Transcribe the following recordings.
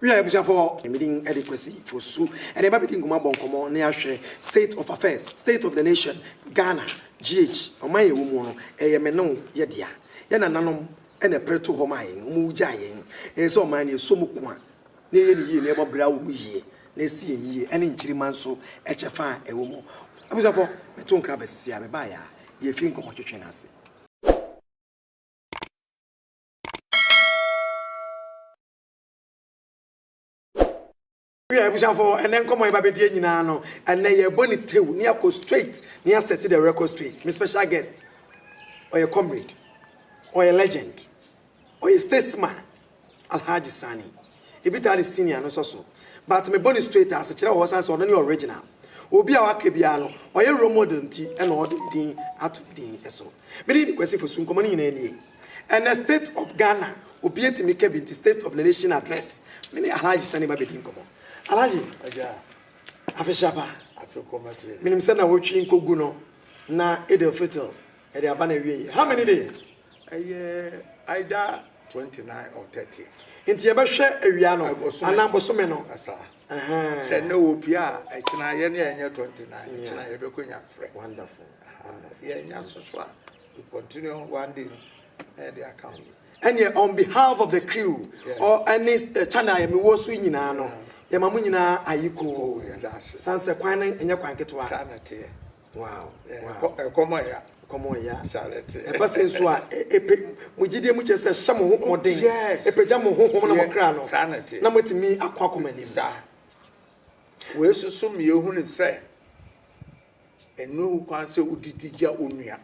Wia abusuafoɔ. Me din de Kwasi Fosu ɛna yɛba abɛdi nkɔmmɔ abɔ nkɔmmɔ na yɛahwɛ state of affairs, state of the nation, Ghana, GH, ɔman a yɛwɔ muo no, ɛyɛ me ne wo yɛ dea. Yɛn nananom na ɛpere too hɔ maa yɛn, wɔn wogyaa yɛn. Ɛyɛ sɛ ɔman no yɛsɔ mu ko a na yɛyɛ no yie na yɛbɔ bra wɔ mu yie na ɛsi yɛn yie ɛne nkyirimma nso ɛkyɛ fa a ɛwɔ mu. Abusuafoɔ, meto nkra aba sisi a mebaeɛ a yɛrefi nkɔmmɔ twetwe no ase. Wi a abusuafo ɛnɛ nkɔmɔ yɛ ba bɛ die nyinaa no ɛnɛ yɛ bɔ ne tew ne akɔ straight ne yɛ set the record straight me special guest ɔyɛ comrade ɔyɛ legend ɔyɛ statesman alhaji sani ebi taa ne senior no nso so but me bɔ ne straight a asekyerɛ wɔ hɔ san sɛ ɔno ne original obi a waka biara no ɔyɛ role model nti ɛna ɔde ne din ato ne din ɛso me ne ne kwasi fosu nkɔmɔ no nyinaa nie. Ɛnɛ state of Ghana obi atumi ka bi nti state of the nation address me ne Alhaji Sani ba bɛdi nkɔmmɔ. Alhaji, afehyɛba, menim sɛ na wotwi nkɔgu no na Eid al-Fitr ɛde aba na awie yɛ. How many days? Ɛyɛ Aida 29 or 30. Nti yɛbɛhwɛ awia no anaa bosome no. Sɛ na obi a ɛkyena yɛ ne ɛnyɛ 29 ɛkyena yɛbɛkɔ nya frɛ. Wonderful. Yɛnya soso a. Ɛneɛ on behalf of the crew or ɛne channel a mewɔ so yi nyinaa no, yɛma mo nyinaa ayekoo. Sane sɛ kwan no nyɛ kwan ketewa. Saa na ɛteɛ. Wow. Ɛkɔm a ɛya. Ɛkɔm a ɛya. Saa na ɛteɛ. Ɛba sɛ nso a, ɛpɛ mo gyidie mu kyerɛ sɛ hyɛ mo ho mmɔden. Yes. Ɛpagya mo honhom na mo kra no. Saa na ɛteɛ. Na moatumi akɔ akɔ mo anim. Saa. Wei soso mmienu hu ne sɛ. Ɛno wo kwan sɛ wodidi gya onua.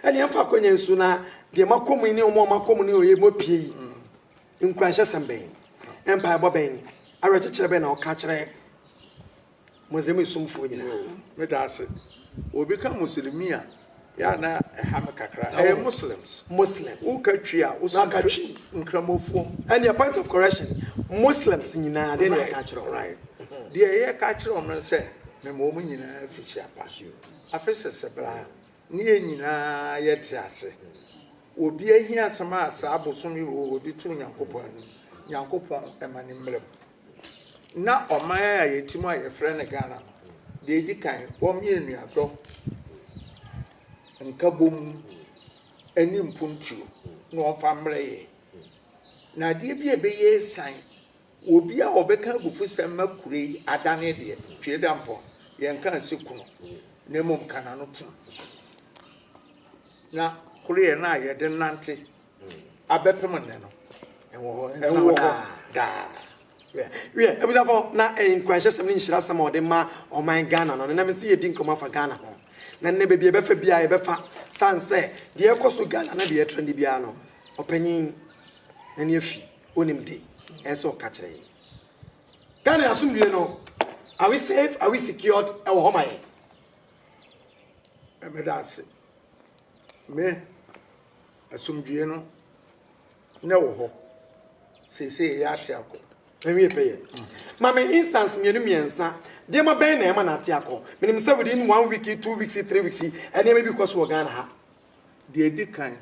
Ɛne ɛmfa akwanya nsu na deɛ makɔ mu yi ne ɔmo a makɔ mu ne ɔyɛ mu apue yi. Mm. Nkuranhyɛsɛm bɛn, mpaebɔ bɛn, awerɛkyekyerɛ bɛn na ɔka kyerɛ Muslim somfoɔ nyinaa. Meda ase. Obi ka Muslimi a yɛ a na ɛha me kakra. Sɛ Ɛyɛ wo- Muslims. Muslims. Woka Twi a, wo so Maka nhwɛ Twi. Nkramofoɔ. Ɛnneɛ point of correction, Muslims nyinaa deɛ na aka akyerɛ wo. Right. Deɛ yɛka akyerɛ wɔn no sɛ, mema wɔn nyinaa fi hyia pa. Afe sese bra a, ne yɛn nyinaa yɛte ase. Obi ahiasɛm a saa bosome wei wɔde to Nyankopɔn anim, Nyankopɔn ma no mmra mu. na ɔman a yɛte mu a yɛfrɛ no Ghana no, deɛ ɛdi kan, wɔmeyɛ nnuadɔ, nkabom ne mpuntuo na wɔmfa mmerɛ yɛ. Na adeɛ bi a ɛbɛyɛ asiane, obi a ɔbɛka abufusɛm ma kuro yi adane deɛ, twe da mpɔ, yɛnka nse kunu, na mmom ka n'ano tom. Na koreɛ no a yɛde nante abɛpem nnɛ no ɛwɔ hɔ ɛwɔ hɔ daa wiɛ abusafo na nkuranhyɛsɛm ne nhyirasɛm a ɔde ma ɔman ghana no nenam sɛ yɛdi nkɔmmɔ afa ghana ho na nnɛ baabi ɛbɛfa biara yɛbɛfa san sɛ deɛ ɛkɔ so ghana na deɛ ɛtra ne biara no ɔpanyin na ne afi onim de ɛsɛ ɔka kyerɛ yɛ ghana asomdue no are we safe are we secured ɛwɔ hɔ ma yɛ ɛbɛda ase me Asomdwoeɛ no na ɛwɔ hɔ seesei ɛyɛ ate akɔ. Ɛnwie pɛyɛ. Ma me instance mmienu mmiɛnsa. Nneɛma bɛn na ɛma no ate akɔ? Menim sɛ within one week, two weeks, three weeks, nneɛma bi kɔ so wɔ Ghana ha. Deɛ ɛdi kan,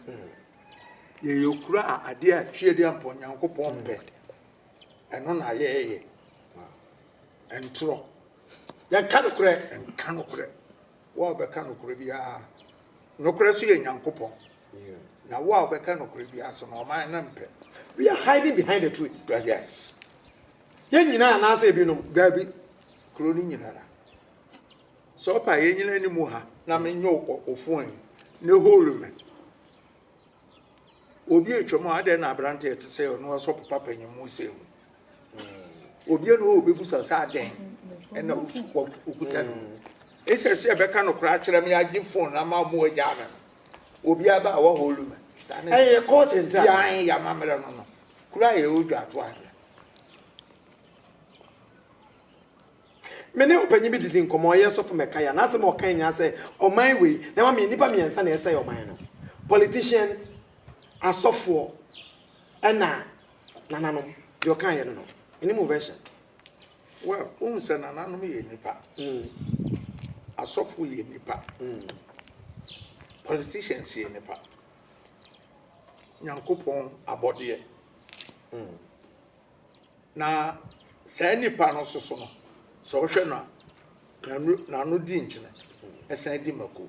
yɛyɛ kuro a adeɛ a tweadeɛ ampa Onyankopɔn mpɛ. Ɛno na yɛyɛ. Ɛntorɔ. Yɛnka nokorɛ. Yɛnka nokorɛ. Wo a wobɛka nokorɛ biara, nokorɛ so yɛ Nyankopɔn, na wo a wobɛka nokorɛ biara so no, ɔman no mpɛ. We are hiding behind the truth. But yes. Yɛn nyinaa anaasɛ ebinom, daabi, kuro no nyinara. Sɛ ɔpa yɛn nyinaa ni mu ha na menyɛ ofon yi ne hole me. Obi atwam a adɛn na aberante ɛte sɛ ɔno ɔsɔpo papa nyim mu sɛ mu. Obi na ɔbɛbusa sɛ adɛn ɛna ɔkuta no mu. Ɛsɛ sɛ ɛbɛka no koraa kyerɛ me agye fon na ma ɔmo agyaa me no. Obi aba a wɔhɔ lu me. Ɛyɛ court ntra. Yɛn yɛ amammerɛ no no. Kura yɛ ɔdwa ato ahwɛ. Me ne ɔpanyin bi didi nkɔmɔ ɔyɛ sɔfo mɛka ya n'asɛm a ɔka nyinaa sɛ ɔman wei na ɛma me nnipa mmiɛnsa na ɛsɛe ɔman no politicians asɔfoɔ Ɛna nananom, deɛ ɔkaa yɛ no no, any more version? Well, wohu sɛ nananom yɛ nnipa, mm. asɔfo yɛ nnipa, mm. politicians yɛ nnipa, nyankopɔn abɔdeɛ. Mm. Na saa nnipa no soso no, sɛ wohwɛ no a, n'ano di nkyene, ɛsan di mako.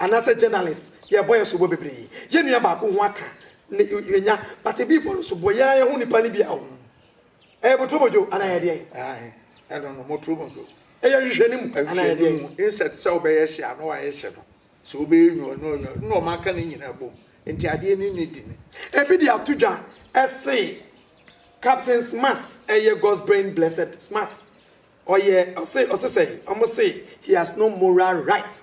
Anaasɛ journalist yɛbɔ yɛ sobo bebree yɛ nua baako ho aka ne yɛnya but ebi bɔ no sobo yɛ ara yɛ ho nipa no bia o ɛyɛ boturo modwo anaa yɛ deɛn ae ɛno no moturo modwo ɛyɛ hwehwɛ ne mu anaa yɛ deɛn insect sɛ wobɛyɛ hye a na wayɛ hye no sɛ wobɛyɛ nyo no nyo na ɔma aka ne nyina bom nti adeɛ ne ne di ne ebi de ato dwa ɛse captain smart ɛyɛ God's brain blessed smart ɔyɛ ɔse ɔse sɛ ɔmo se he has no moral right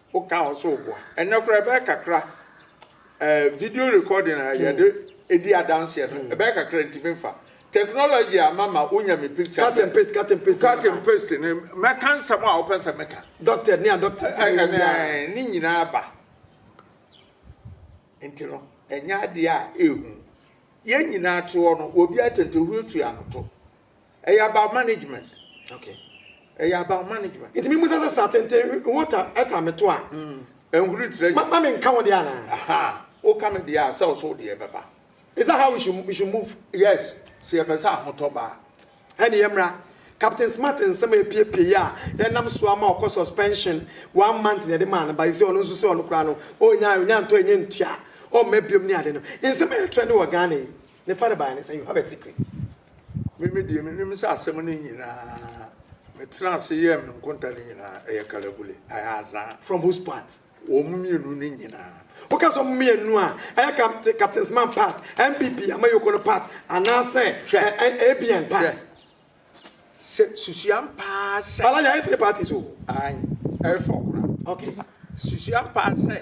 Wo ka ho so boa. Ɛnɛ koraa ɛbɛyɛ kakra eh, video recording a yɛde edi adanseɛ no ɛbɛyɛ kakra ntumi nfa. Technology ama ma wonya me picture. Cut and paste, cut and paste. Cut and paste ne mɛka nsɛm a wopɛ sɛ meka. Doctor ne a doctor. Ɛnɛ ne nyinaa ba. Nti no ɛnyɛ adeɛ a ɛhu. Yɛn nyinaa to hɔ no obiara tɛntɛ huatua no to. Ɛyɛ about management. Okay. Ɛyɛ about management. Nti mi mu sɛ sɛ sa tenten ho ta ɛta mi to a. Mm. Ɛnhuri tirɛ. Ma ma mi nka ho deɛ ana. Aha. O ka mi deɛ a sɛ ɔso deɛ bɛba. Is that how we should we should move? Yes. Sɛ yɛ pɛ sɛ ahotɔ ba. Ɛni yɛ mra. Captain Smart nsɛm a epiepie yi a yɛnam so ama ɔkɔ suspension one month na yɛde maa no ba yi sɛ ɔno nso sɛ ɔno koraa no ɔnya ɔnya ntɔ ɛnyɛ ntua ɔmma biom ne ade no nsɛm a yɛtrɛ ne wɔ Ghana yi ne fa ne baeɛ ne sɛ you have a secret. Me me deɛ menim sɛ asɛm no nyinaa metenaa ase yɛɛ me nkonta no nyinaa ɛyɛ kalabule ɛyɛ azaa. From whose part? Wɔn mmienu no nyinaa. Woka sɛ wɔn mmienu a, ɛyɛ Captain Captain Smart part, NPP Amayoko no part anaasɛ Hwɛ, ɛ ɛ ABN part? hwɛ, sɛ susuam paa sɛ, Bala yɛayɛ three parties o. ae, ɛyɛ four koraa, Okay. susuam paa sɛ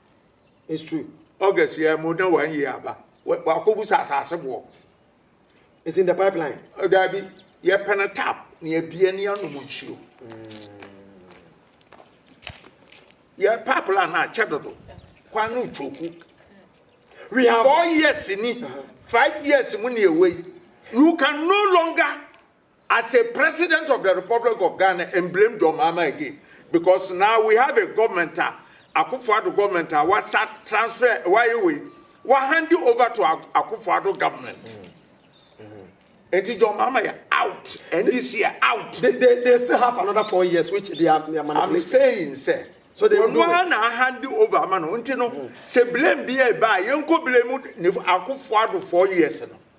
It's true. August yɛ mo na wɔn yɛ aba. Wɔakɔ bu sa asase boɔ. It's in the pipeline. Oh, Dabi, yɛ pɛ na tap na yɛ bie ne yɛ nom nsuo. Yɛ pipeline na kyɛ dodo. Kwan no twoku. We have four years ni, uh-huh. five years mu ni ewe. You can no longer As a president of the republic of Ghana and blame John Mahama again because now we have a government a Akufo Addo government a wasa transfer wayɛ wei wa hand over to Akufo Addo government. Mm. Enti John Mahama yɛ out. NDC yɛ out. They, they, they still have another four years which they are, they are manipulating. I'm saying sɛ. So they will do it. na hand over ama no. Nti no mm. sɛ blame bi ɛba a yɛnkɔ blame ne akofo ado four years no.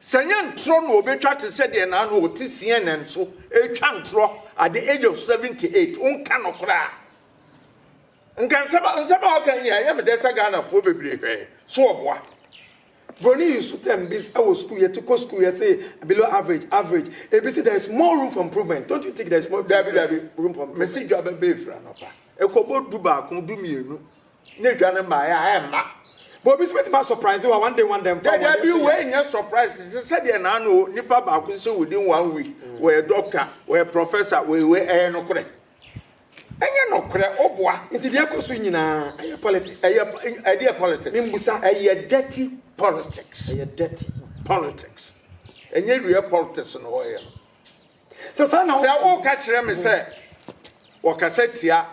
Sɛ nyɛ ntorɔ na ɔbɛtwa te sɛ deɛ naano a ɔte CNN so retwa ntorɔ at the age of 78, wonka nokorɛ a. Nka nsɛm a nsɛm a ɔka nyinaa ɛyɛ me dɛ sɛ Ghanafoɔ bebree hwɛɛ so ɔboa. Broni yi nso term bi sɛ wɔ sukuu yɛte kɔ sukuu yɛse below average, average, ebi se there is more room for improvement, don't you think there is more Daabi daabi, room for improvement? mese dwa bɛbɛ ɛfiri anɔpa ɛkɔbɔ du baako, du mmienu. Ne dwa no mmaeɛ a ɛmma. But obi nso bɛtumi asɔpraise wa one day one day mfa wɔn Daabi yɛ wei nyɛ surprise te sɛ sɛdeɛ naano o nipa baako sɛ within one week wɔyɛ doctor wɔyɛ professor wɔyɛ wei ɛyɛ nokorɛ ɛnyɛ nokorɛ ɔboa Nti deɛ ɛkɔ so nyinaa ɛyɛ politics. ɛyɛ ɛdeɛ politics Membusa. ɛyɛ dirty politics Ɛyɛ dirty. politics ɛnyɛ real politics na wɔyɛ no. Sɛ saa na. Sɛ woka kyerɛ me sɛ wɔkasa tia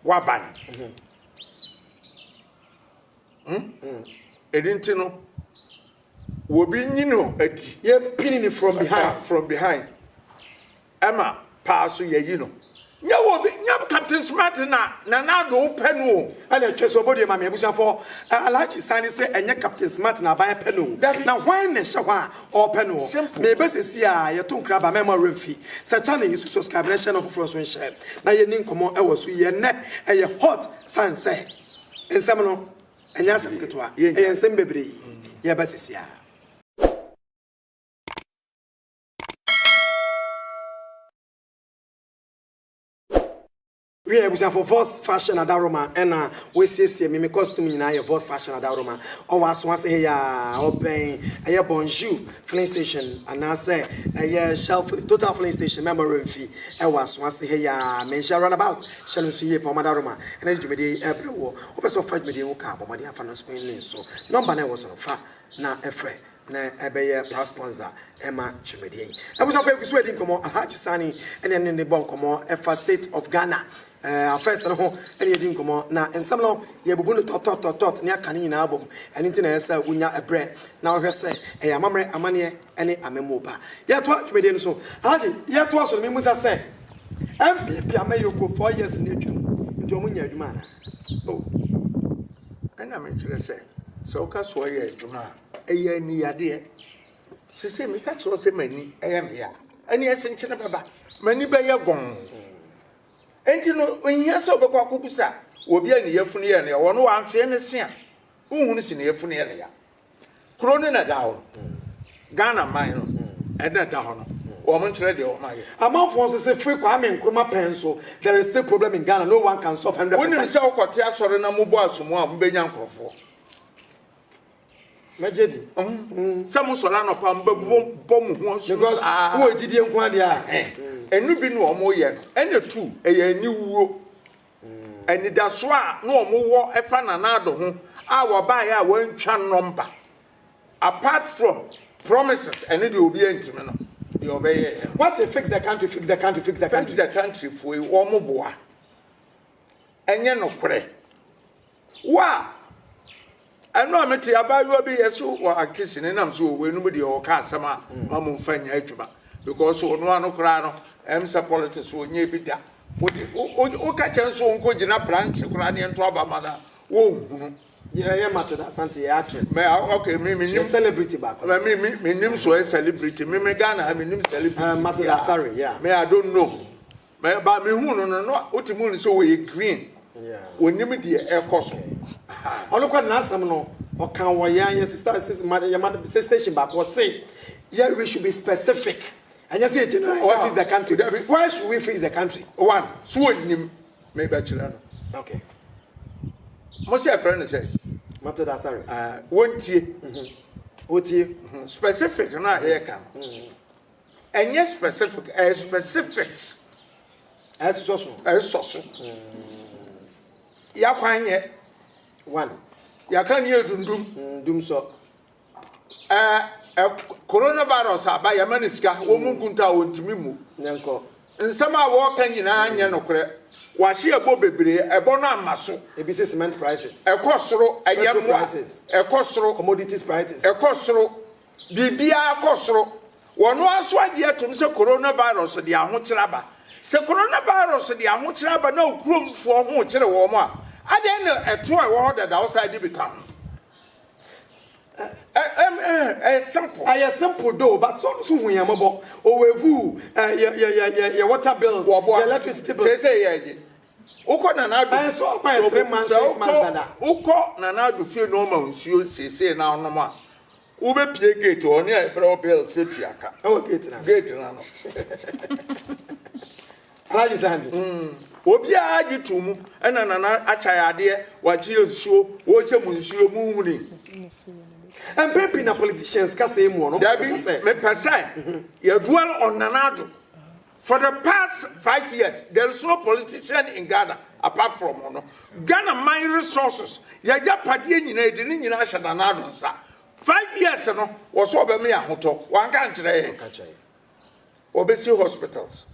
w'aban. Ɛno nti no, wɔbi nyi no adi. Yɛmpini no from behind. From behind. Ɛma paa so yɛyi no. Nyɛ wo obi nyɛ captain smart na nana ado wo pɛ no o. Ɛna ɛtwa so ɔbɔ due ma me abusuafoɔ ɛ Alhaji Sani se ɛnyɛ captain smart na aban pɛ no o na hwan na ɛhyɛ hɔ a ɔɔpɛ no ɔ me bɛ sɛsi a yɛto nkra ba mɛma wura mfi sɛ channel yi so subscribe na hyɛ no afoforɔ nso nhyɛ na yɛni nkɔmɔ ɛwɔ so yi ɛnɛ ɛyɛ hot sane sɛ nsɛm no ɛnyɛ asɛm ketewa ɛyɛ nsɛm bebree yɛɛba sɛsi a. Wiɛ abusuafo Voss Fashion Adaworoma ɛna w'asiesie me me costume nyinaa yɛ Voss Fashion Adaworoma ɔwɔ aso ase he yaa ɔbɛn ɛyɛ Bonjour filling station anaasɛ ɛyɛ Shell filling Total filling station Memorial mfi ɛwɔ aso ase he yaa me nhyɛ run about hyɛ no nso yie paa wɔn adaworoma ɛna de dwumadie yi ɛɛbrɛ woɔ wopɛ sɛ wofa dwumadie yi ho ka bɔ mmɔden afa no nso nso nɔmba no a ɛwɔ so no fa na ɛfrɛ na ɛbɛyɛ past sponsor ɛma dwumadie yi. Abusuafoɔ yɛgu so adi nkɔmmɔ, Alhaji Sani ɛne ɛne ne bɔ nkɔmmɔ ɛfa state of Ghana eh, affairs no ho ɛne yɛdi nkɔmmɔ, na nsɛm no yɛbubu no tɔtɔtɔtɔt ne aka ne nyinaa abɔ mu, ɛno nti na ɛyɛ sɛ wonya ɛberɛ na wohwɛ sɛ ɛyɛ amammerɛ, amanneɛ ɛne amammuo pa. Yɛtoa dwumadie no so, Alhaji yɛtoa so no memusa sɛ NPP amanyɔkuo four years no atwam nti wɔn nyɛ adwuma anaa? Oh, ɛna mekyerɛ sɛ sɛ woka so ɔyɛ adwuma a Ɛyɛ aniyadeɛ. Sese meka kyerɛ sɛ m'ani ɛyɛ meya. Ɛne ɛsenkyene bɛba. M'ani bɛyɛ gɔn. Enti no, nhia sɛ wobɛkɔ akɔbusa obi a ne yafunu yɛ no ya. Wɔn wɔ amfeɛ no se a, wohunu se ne yafunu yɛ no ya. Kuro no na ɛda hɔ no. Ghana man no ɛna ɛda hɔ no. Wɔn nkyerɛ deɛ wɔn ayɛ. Amanfoɔ nso se firi Kwame Nkrumah pɛn nso, there is still problem in Ghana, no one can solve hundred percent. Wonim sɛ wokɔte asɔre na mobɔ asomu a, mobɛnya nkorɔfoɔ. mɛgye di. sɛ mo sɔrɔ anɔpa mo bɛ bɔ mo ho ɔsoro saa. wɔ gyidie nko adeɛ a. ɛnu bi na wɔn yɛ no ɛna tu ɛyɛ aniwuo anidaso a na wɔn wɔ ɛfa nana ado ho a wɔbaayɛ a wɔantwa nɔmba apart from promises ɛne deɛ obi antumi no deɛ ɔbɛyɛ yɛ. what a fix the country fix the country fix the country. fix the country foe wɔn boa ɛnyɛ nokorɛ. Wa! Ɛno a me te abaayewa bi yɛ so wɔ Actis ne nam so wɔ wei no mu deɛ ɔka asɛm a ma mo nfa nyɛ adwuma because ɔno ano koraa no ɛm sɛ politics wɔ nyɛ bi da wode wo ka kyɛn so nko gyina branch koraa ne ɛnto aba ma no a wɔnhunu yɛ mate da asante yɛ actress mɛ ah, ok me me nim celebrity baako mɛ me me me nim so yɛ celebrity me me Ghana me nim celebrity uh, mate da sorry yeah me I don't know Me ba me hu no no no wote mu no sɛ wɔyɛ green wɔnim deɛ ɛkɔ so. Ɔno kɔ n'asɛm no ɔka wɔ yɛn yɛ sista yɛ station baako ɔse yɛ we should be specific ɛnyɛ sɛ general why fix the country dabi why should we fix the country one so wɔnim mebɛkyerɛ no okay mo sɛ ɛfrɛ no sɛ mate da sare wɔntie wɔtie specific no a yɛka no Ɛnyɛ specific, ɛyɛ specifics. Ɛsɔ so. Ɛsɔ so. Yakwan yɛ. One. Yɛaka ne yɛ dundum. Mm, dum sɔ. Ɛɛ ɛ coronavirus aba yɛma ne sika wɔn mu nkunta a wɔntumi mu. Nyɛnkɔ. Nsɛm a wɔreka nyinaa nyɛ nokorɛ. Wɔahye ɛbɔ bebree, ɛbɔ no amma so. Ebi sɛ cement prices. Ɛkɔ soro, ɛyɛ mmoa. Ɛkɔ soro. Commodities prices. Ɛkɔ soro. Biribiara kɔ soro. Wɔn ara nso agye atom sɛ coronavirus de ahokyere aba. Sɛ coronavirus de ahokyere aba na wo kuromfoɔ ho rekyere wɔn a, adɛn na ɛtoɔ a ɛwɔ hɔ dada wo san de bi ka ho? Ɛyɛ simple. Ɛyɛ simple though but ɔno nso hu yɛn mmɔbɔ. Ɔwɔ avuu, yɛ yɛ yɛ yɛ yɛ water bills, yɛ electricity bills. Sɛ sɛ yɛ ɛgye. Wokɔ Nana Addo. Ɛyɛ sɛ ɔkɔ yɛ three months six months dada. Wokɔ Nana Addo fie na ɔma nsuo sese na ɔnom a. Wobɛpie gate hɔ ne a brɛ wo bell sɛ tua ka. Ɛwɔ gate na. Gate na no. Alhaji Sani. Mm. Obiara gye to mu ɛna nana akya yɛ adeɛ wakye yɛ nsuo wɔkyɛ mu nsuo mu huni. Mpɛn pii na politicians kasa yi mu ɔno. Dabi mepɛ sɛ yɛdual ɔnana ado. For the past five years there is no politician in Ghana apart from ɔno. Ghana man resources yagyapadeɛ nyinaa yɛde ne nyinaa ahyɛ Nana Addo nsa. Five years no wɔsɛ ɔbɛma yɛ ahotɔ wanka nkyerɛ yɛn. Ɔbɛsi hospitals.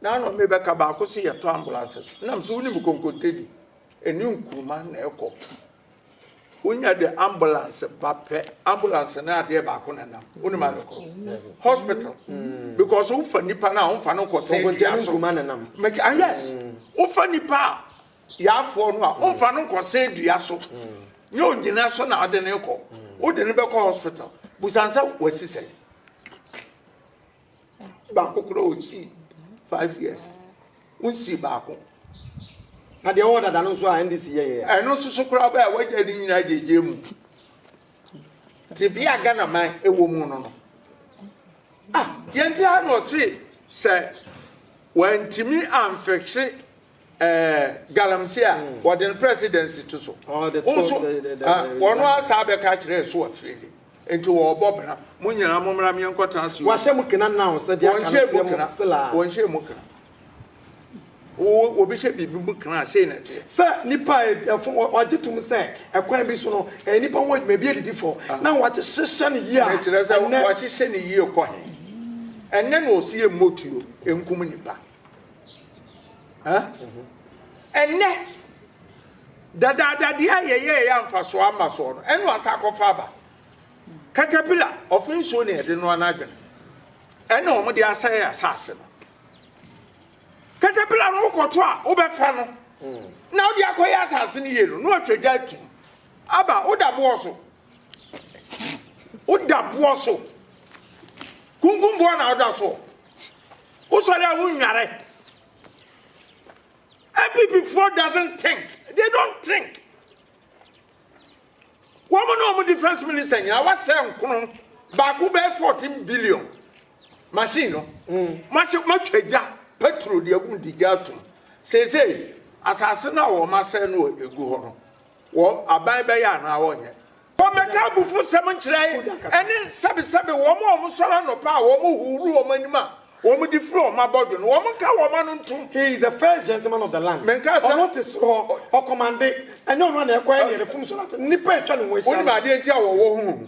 Nana ɔme bɛka baako se yɛtɔ ambulances. Nam sɛ wonim konkontedi ɛne nkuruma na ɛkɔ. Wonya de ambulance ba pɛ ambulance ne adeɛ baako na nam wonim ade kɔ hospital mm. because wofa nipa no a womfa no nkɔsɛ dua so mɛkyɛ ah yes mm. wofa nipa a yaafoɔ no a womfa no nkɔsɛ dua so mm. nyɛ onyina so na wode ne kɔ wode ne bɛkɔ hospital busansɛ wasi sɛ baako koraa ɔsii five years wonsii baako na deɛ ɔwɔ dada no nso a ndc yɛyɛ ɛno nso so koraa bɛɛ a wagya ne nyinaa gyegye mu tebea ghana man ɛwɔ mu no no ah yɛnti ha na ɔse sɛ wantumi amfɛkse Ɛɛ galamsey a wɔde no presidency to so. Wo so wɔn ara saa bɛka akyerɛ so afeeli. Nti wɔrebɔ bra. Mo nyinaa mo mmra meɛ nkɔ tena Seoul. Wɔahyɛ mu kena now sɛ deɛ aka no fie mu still a. Wɔnhyɛ mu kena. Obi hyɛ biribi mu kena a sei na ɛteɛ. Sɛ nipa a ɛfo wɔagye tom sɛ ɛkwan bi so no ɛyɛ nipa ho adwuma ebi adidi fɔ na wɔahyehyɛ no yie a. Ɛnɛ. Wɔahyehyɛ no yie kɔ he? Ɛnɛ na ɔsi yɛ mmɔ tuo nkum nipa. Ɛnnɛ, dadaadadeɛ a yɛyɛɛ yɛ amfasoɔ ama soɔ no, ɛna ɔsa akɔfa aba. Katapila, ɔfe nsuo na yɛde noa n'adwene. Ɛna wɔn de asɛe asase no. Katapila no wokɔto a wobɛfa no na wode akɔyɛ asase no yie no, na ɔtwa gya atum. Aba, woda boɔ so. Woda boɔ so. Kunkum boɔ na woda soɔ. Wosɔre a wonnware. Abibifoɔ doesn't think. They don't think. Wɔn ne wɔn defense minister nyinaa wasɛ nkono baako bɛyɛ fourteen billion machine no. Mahyɛ matwa gya petrol deɛ agum di gya atum. Seesei asase no a wɔn asɛ no egu hɔ no. wɔ aban bɛyɛ anaa wɔnyɛ. Wɔmmɛka abufusɛm nkyerɛ ɛne sɛbesɛbe wɔn a wɔsɔre anɔpa a wɔhuhuru wɔn anim a wɔde firi wɔn abɔdwe no, wɔnka wɔn ano ntom. He is the first gentleman of the land. Menkaa sɛ. Ɔno te soro hɔ, ɔkɔmande. Ɛnyɛ ɔno na ɛkɔyɛ nea n'afum so no ato no, nnipa a atwa ne ho ahyia no. Wonim adeɛ nti a wɔwɔ ho hu?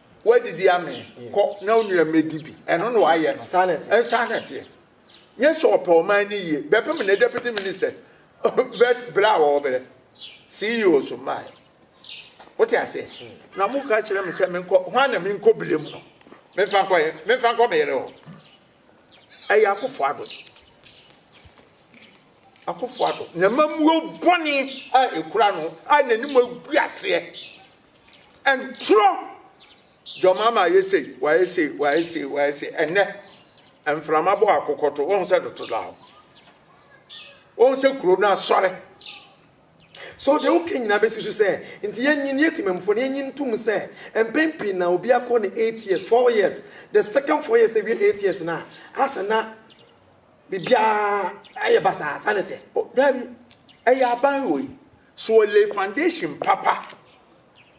Woadidi amee, kɔ na wo nua mmɛdi bi. Ɛno na wayɛ no. Saa na ɛteɛ. Ɛnsaa na ɛteɛ. Nyɛ sɛ ɔpɛ ɔman no yie. Bɛpem ne deputy ministers. Vet berɛ a wɔbrɛ CEO so mmaeɛ. Wote aseɛ? Hmm. Na moka kyerɛ me sɛ menkɔ, hwan na menkɔ bire mu no? Memfa nkɔyɛ, memfa nkɔ me yere hɔ. Ɛyɛ Akufo Addo. Akufo Addo, n'amammuo bɔne a ɛkura no a n'anim agu aseɛ. Ɛntorɔ. John Mahama ayɛ sei, wayɛ sei, wayɛ sei, wayɛ sei. Ɛnnɛ, mframa bɔ akokɔto, wɔn sɛ dotodaw. Wɔn sɛ kuro no asɔre. So deɛ woka nyinaa bɛsi so sɛ nti yɛnyin, yɛ Temamufoɔ no, yɛnyin ntom sɛ mpɛn pii na obi akɔ ne eight years, four years, the second four years na awie eight years no a, asɛ na biribiara ayɛ basaa, saa na ɛte? O, daabi. Ɛyɛ aban wei. So ɔlay foundation papa.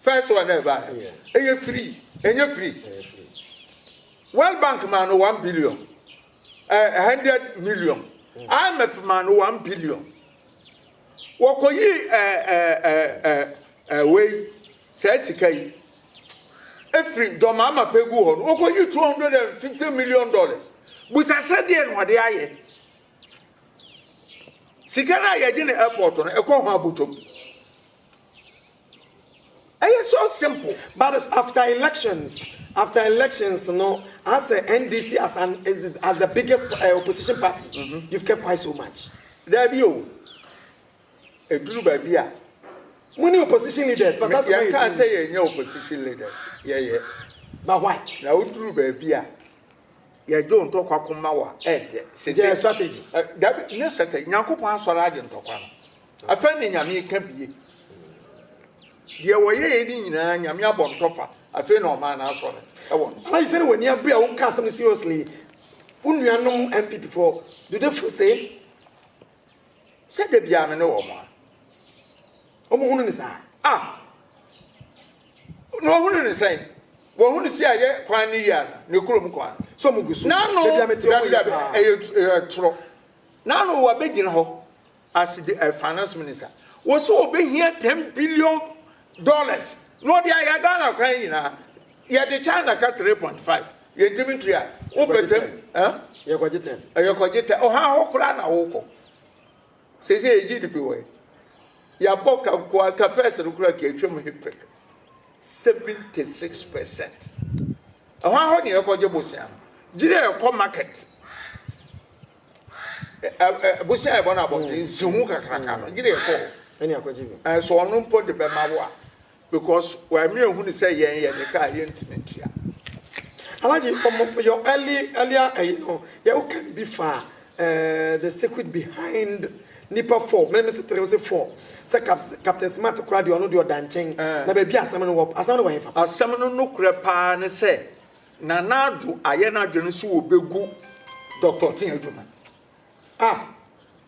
First one na ɛba no. Ɛyɛ free. Ɛnyɛ free. World Bank maa no one billion. Uh, hundred million. IMF maa no one billion. Wɔkɔyi uh, uh, uh, uh, uh, wei saa sika yi efiri dɔmaama pɛ gu hɔ no wɔkɔyi two hundred and fifty million dollars busa sɛ deɛ na ɔde ayɛ sika no a yɛgye no airport no ɛkɔ ho abotɔm. Ɛyɛ so simple. But after elections after elections no asɛ NDC as an as the biggest uh, opposition party mm -hmm. you've kept quiet so much. Dabi o. Eduru baabi a. Mo ni opposition leaders but that's why. Yɛn kaa sɛ yɛn nyɛ opposition leaders. Yɛyɛ. But why? Na oduru baabi a. Yɛ dwo ntɔkwa ko ma wa ɛ dɛ. Sese. Yɛ strategy. Ɛ dabi nye strategy Nyankopɔn asɔre agye ntɔkwa no afɛ ne Nyame ka bie deɛ wɔ yɛɛ ne nyinaa Nyame abɔ ntɔfa afei na ɔmaa no asɔ no ɛwɔ no so. Alaji sɛne wani abere a wo ka asɛm no seriously wo nua nom NPP foɔ do they feel same sɛ da biaa me ne wɔn a. Wɔn hunu ne saa. Ah! Na wɔn hunu ne sɛn? Wɔn hunu si a yɛ kwan ne yia no, ne kurom kwan. So wɔn gu so. N'ano dabi dabi ɛyɛ ɛyɛ toro. N'ano wɔ bɛ gyina hɔ. Asi de ɛfa no som ne sa. Wɔsɛ wɔbɛ hia ten billion dollars. Na wɔde ayɛ Ghana kwan nyinaa. Yɛde China ka three point five. Yɛn ntumi ntua. Wɔpɛ ten. Yɛkɔgye ten. Yɛkɔgye ten. Ɔhan hɔ koraa na wɔkɔ. Sesei yɛgye di pe wɔ he? Yɛabɔ ka nko ara, ka first no koraa ka atwam he pɛpɛ, 76 percent. Ɛhɔ ara hɔ ne yɛkɔgye bosea no. Gyiri a ɛkɔ market, bosea a yɛbɔ no abɔnten, nsiho kakraka no, gyiri a ɛkɔ hɔ. So ɔno mpo de bɛma wo a, Because why me ehunu sɛ yɛn yɛ ne ka a yɛntumi ntua. Alaji ɔmo yɛ early earlier ɛyi eh, no yɛ wo kan bi fa eh, the secret behind nipa four mene me se tere se four sɛ captain smart kora deɛ ɔno deɛ ɔda nkyɛn eh. na baabi asɛm no wɔ asɛm no wɔ hefa asɛm no no korɛ paa ne sɛ nana ado ayɛ no adwene so wɔbɛgu dɔctor te adwuma ah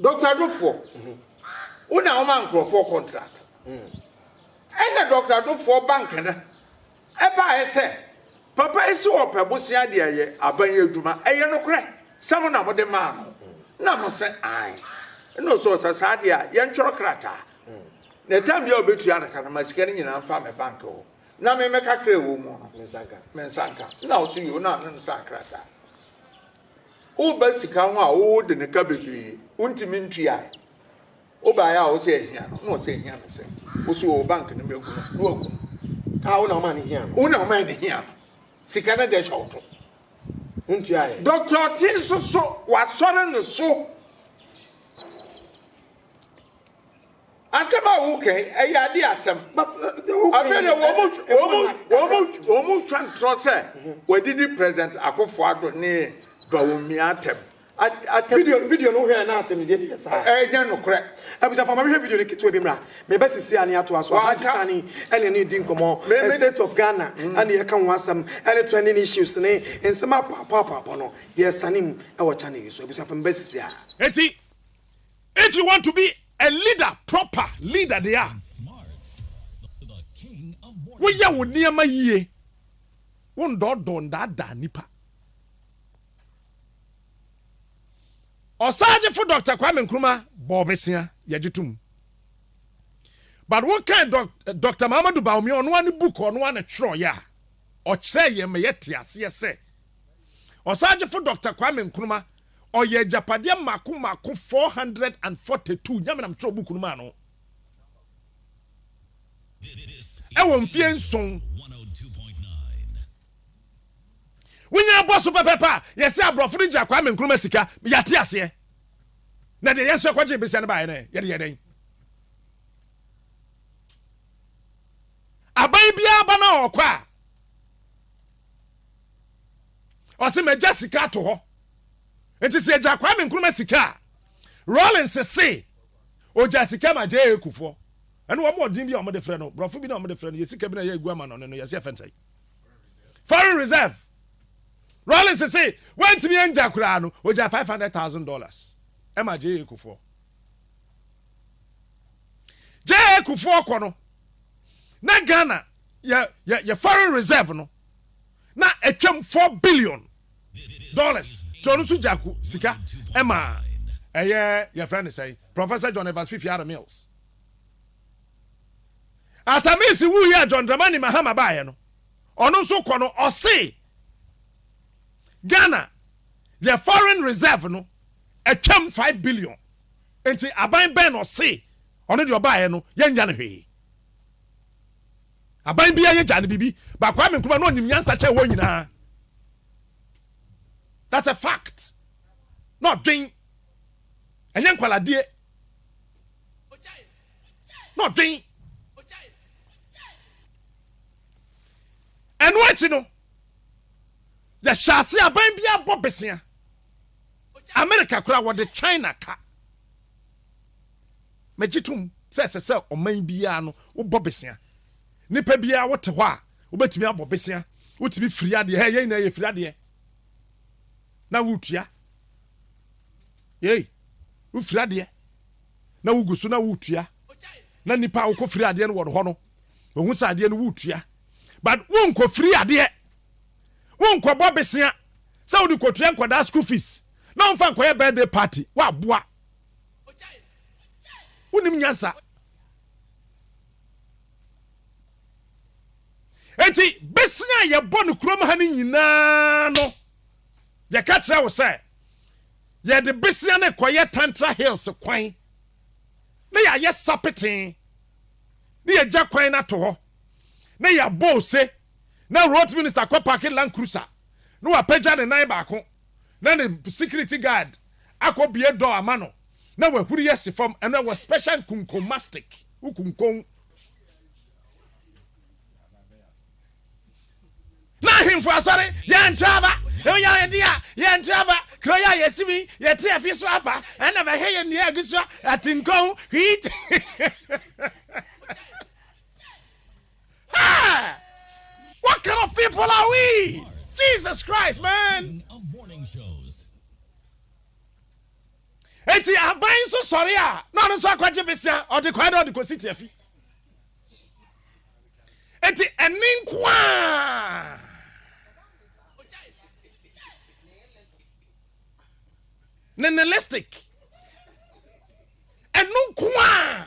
Doctor Dofoɔ, wo na woma nkorɔfoɔ contract. Ɛna Doctor Dofoɔ ba Nkana baeɛ sɛ, Papa yi se ɔpɛ bosea de ayɛ aban yi adwuma, ɛyɛ nokorɛ sɛ mo na mode maa no? Ɛna mo se, Aane. Ɛna ɔse, Ɔsɛ saa deɛ a, yɛntwerɛ krataa, na time biara a ɔbɛtua no ka no, ma sika no nyinaa mfa me bank hɔ, na me mɛka kra a ɛwɔ mu no, me nsa nka. Ɛna ɔse, Yoo, na ɔne no saa krataa. Woba sika ho a wode no ka bebree, wontumi ntuae. Wobae a wose ahia no, na ɔse ahia no sɛn? Wose oo bank no mɛgu no, na wagu no. Ah wo na womaa no hia no. Wo na womaa no hia no. Sika no deɛ hyɛ wo to. Wontuaeɛ. Doctor Ɔte nso so, wasɔre no so. Asɛm a woka yi, ɛyɛ ade asɛm. Afei na wɔn mu wɔn mu wɔn mu wɔn mu twa ntorɔ sɛ wɔadidi President Akufo Addo ne Bawumia atɛm. Atɛm. Video video no hwɛ na atɛmdie no yɛ saa. Ɛnyɛ nokorɛ. Abusafo ama mehwɛ video no ketewa bi mmra. Meba sisi a ne atoa so. Alhaji Sani ɛne ɛne di nkɔmɔ. Me state of Ghana ɛne yɛka ho asɛm ɛne trending issues ne nsɛm apɔapɔapɔapɔ no yɛresane mu ɛwɔ channel yi so. Abusafo meba sisi a. Eti If you want to be a leader, proper leader deɛ a, woyɛ wo nneɛma yie, wo ndɔɔdɔɔ ndaadaa nipa. Ɔsaagyefo Dɔkta Kwame Nkrumah bɔɔ bɛsia, yɛgye to mu. But wokan Dɔkta Mahamadou Bawumia, ɔno ara ne book ɔno ara na twerɛeɛ a, ɔkyerɛɛ yɛn ma yɛte aseɛ sɛ Ɔsaagyefo Dɔkta Kwame Nkrumah, ɔyɛ agyapadeɛ mmaako mmaako four hundred and forty two Nyamenam twerɛ book no maa no ɛwɔ mfeɛ nson. Wonya abɔ so pɛpɛpɛ a, yɛse aborɔfo no gyaa Kwame Nkrumah sika, yɛate aseɛ. Na deɛ yɛn nso yɛkɔgyee besia no baeɛ no ɛ, yɛde yɛ dɛn? Aban biara ba no a ɔkɔ a, ɔse magya sika ato hɔ nti sɛ agya Kwame Nkrumah sika a Rawlings se ogya sika ma JA Kufuor ɛne wɔn ɔdin bi a wɔde frɛ no borɔfo bi na wɔde frɛ no yɛ sika bi na yɛ egu ama no no yɛse ɛfɛn sɛn foreign reserve Rawlings se wantumi angya koraa no ogya five hundred thousand dollars ɛma JA Kufuor JA Kufuor kɔ no na ghana yɛ yɛ yɛ foreign reserve no na ɛtwam four billion dollars tí ɔno nso gya ko sika ɛma ɛyɛ yɛfrɛ ne sɛn professor john evans fifi ara mills atamisi wu yɛ john dramani mahama baayɛ no ɔno nso kɔ no ɔse ghana yɛ foreign reserve no ɛtwam five billion. Enti aban bɛn na ɔse ɔno deɛ ɔbaeɛ no yɛnnya no hwee? Aban biara yɛgyaa no biribi but Kwame Nkrumah na ɔnim nyansa kyɛn wɔn nyinaa. That's a fact. Na ɔdwen. Ɛnyɛ nkwaladeɛ. Na ɔdwen. Ɛno akyi no, yɛhyɛ ase aban biara bɔ besea. America koraa wɔde China ka. Megye tom sɛ ɛsɛ sɛ ɔman biara no wobɔ besea. Nipa biara wote hɔ a wobɛtumi abɔ besea. Wotumi firi adeɛ. Hɛ, yɛn nyinaa yɛfiri adeɛ na woretua. Yei, wofiri adeɛ na wogu so na woretua. Na nipa a wokɔfiri adeɛ no wɔ hɔ no, wɔhu sɛ adeɛ no woretua. But wonkɔfiri adeɛ. wonkɔbɔ besea sɛ wode kɔtua nkwadaa school fees na womfa nkɔyɛ birthday party woaboa wonim nyansa enti besea a yɛbɔ no kurom ha no nyinaa no yɛka kyerɛ wo sɛ yɛde besea no kɔyɛ tantra hills kwan na yɛayɛ sapeten na yɛgya kwan no ato hɔ na yɛabɔ ose na road minister kɔ parke land cruiser na wapagya ne nan baako na ne security guard akɔ bue door ama no na wahuri asi fam ɛno ɛwɔ special nkunkon mastic wo kunkon na ahemfo asɔre yɛntra aba ɛmu yɛ yɛde a yɛntra aba kuro yɛ a yɛsi mi yɛte afi so aba ɛna bɛhwɛ yɛ nnua agu so atenkɔn hwii Hey! What kind of people are we? Jesus Christ, man. Eti aban so sorry a na ɔno nso akɔgye besia ɔde kwae dɛ ɔde kɔsi tiafi. Eti ɛne nko a. Nihilistic. Ɛno nko a.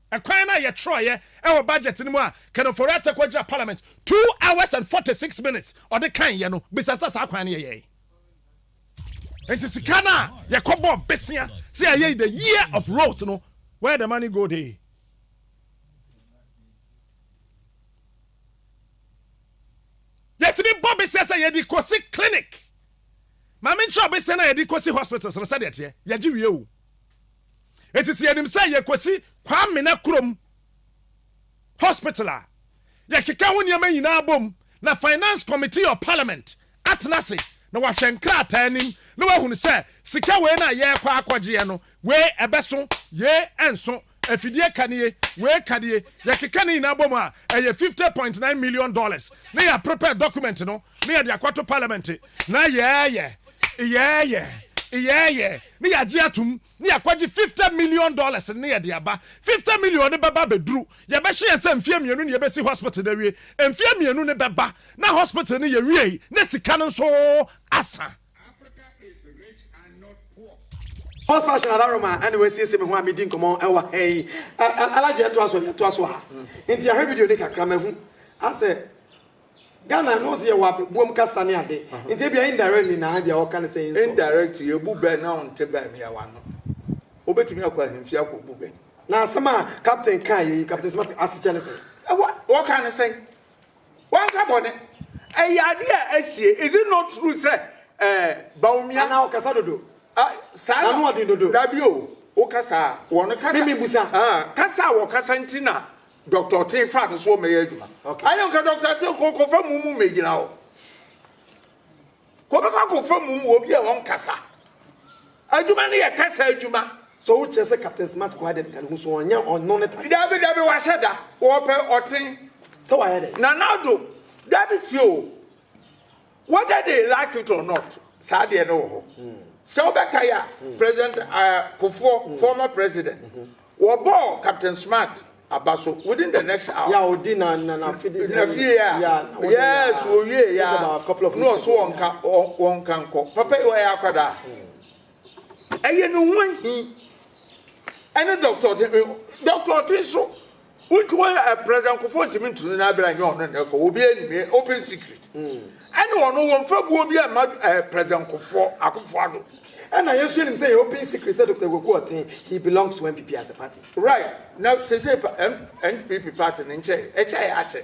Ɛkwan no a yɛtwerɛeɛ wɔ budget no mu a Ken Ofori Atta kɔgyina parliament two hours and forty six minutes ɔde kaeɛ no, bisa sɛ saa kwan no yɛyɛe. Nti sika no a yɛkɔbɔɔ besea sɛ yɛayɛ the year of roads no, where the money go dey? Yɛtumi bɔ besea sɛ yɛde kɔsi clinic. Ma menkyerɛ wo besea no a yɛde kɔsi hospitals no sɛdeɛ ɛteɛ. Yɛgye wie o. Enti sɛ yɛnim sɛ yɛkɔsi Kwamena kurom hospital a, yɛkeka ho nneɛma nyinaa bom na Finance Committee of Parliament atena ase na wɔahwɛ nkrataa anim na wɔahunu sɛ sika wei no a yɛrekɔ akɔgyeɛ no, wei ɛbɛso, yei ɛnso, afidie ka nie, wei ka nie, yɛkeka ne nyinaa bom a, ɛyɛ fifty point nine million dollars na yɛaprepare document no. ne yɛde akɔto Parliament na yɛɛyɛ yɛɛyɛ yɛɛyɛ ne yɛagye atom ne yɛakɔgye fifty million dollars ne yɛde aba. Fifty million no bɛba abɛduru, yɛbɛhyɛ yɛn sɛ mfeɛ mmienu ne yɛbɛsi hospital no awie. Mfeɛ mmienu no bɛba na hospital no yɛwiei na sika no nso asa. Horse fashion Alaroma na wasiesie me ho a medi nkɔmmɔ wɔ ha yi. Alhaji yɛntoa so yɛntoa so a nti yɛahwɛ video no kakra mahu asɛ Ghana no ɔse yɛwɔ abɛboam kasa ne ade nti ebia indirectly na ebia ɔka no sɛ nsɔ. Indirectly ebu bɛ na ɔnte bɛ mmeawa ano. Wobɛtumi akɔ ahemfie akɔbu bɛ. Na asɛm a Captain kaeɛ yi, Captain Smarty, asekyerɛ ne sɛn? Wɔka no sɛn? Wanka bɔne. Ɛyɛ adeɛ a asie. Is it not true sɛ eh, Bawumia. Anaa ɔkasa dodo? Ah, saa na. N'ano ɔden dodo. Dabi o, wokasa a wɔn kasa. Mimi busa. Ah, kasa a wɔkasa nti na Doctor Ɔtee fa no so wɔ mɛyɛ adwuma. Okay. Ayɛ nka Doctor Ɔtee kɔ kɔ fa mu mu mɛgyina hɔ. Kɔ bɛkɔ akɔ fa mu mu obi a wɔn kasa. Adwuma no yɛ kasa adwuma. So wo kyerɛ sɛ Captain Smart kɔ adɛn ka ne ho so ɔnyɛ ɔno ne ta. Dabi dabi wahyɛ da wɔpɛ ɔten. Sɛ wayɛ dɛ. Nana do dabi tie o. Whether they like it or not, saa deɛ no wɔ hɔ. Sɛ wobɛkae a, President Kufuor, former president, wɔbɔɔ Captain Smart aba so within the next hour. Yeah, odi na na na fidi. Na fie a. Yeah, na odi na. Yes, owie ya. Just about a couple of weeks ago. No, so wɔnka wɔnka nkɔ. Papa yi wɔyɛ akwadaa. Ɛyɛ ne ho ahi. Ɛne dɔkta ɔte dɔkta ɔte nso wontumi ayɛ ɛprɛsɛ nkɔfoɔ ntumi ntunu no abira nyɛ ɔno nnɛ kɔ obi anim eh, open secret ɛne ɔno wɔn fa buo bi ɛma ɛprɛsɛ nkɔfoɔ akɔfoɔ ado. Ɛna yɛn nso yɛnim sɛ yɛ open secret sɛ Dr. Kwaku ɔte he belongs to NPP as a party. Right na seisei pa NPP party no nkyɛe ɛkyɛe akyɛ.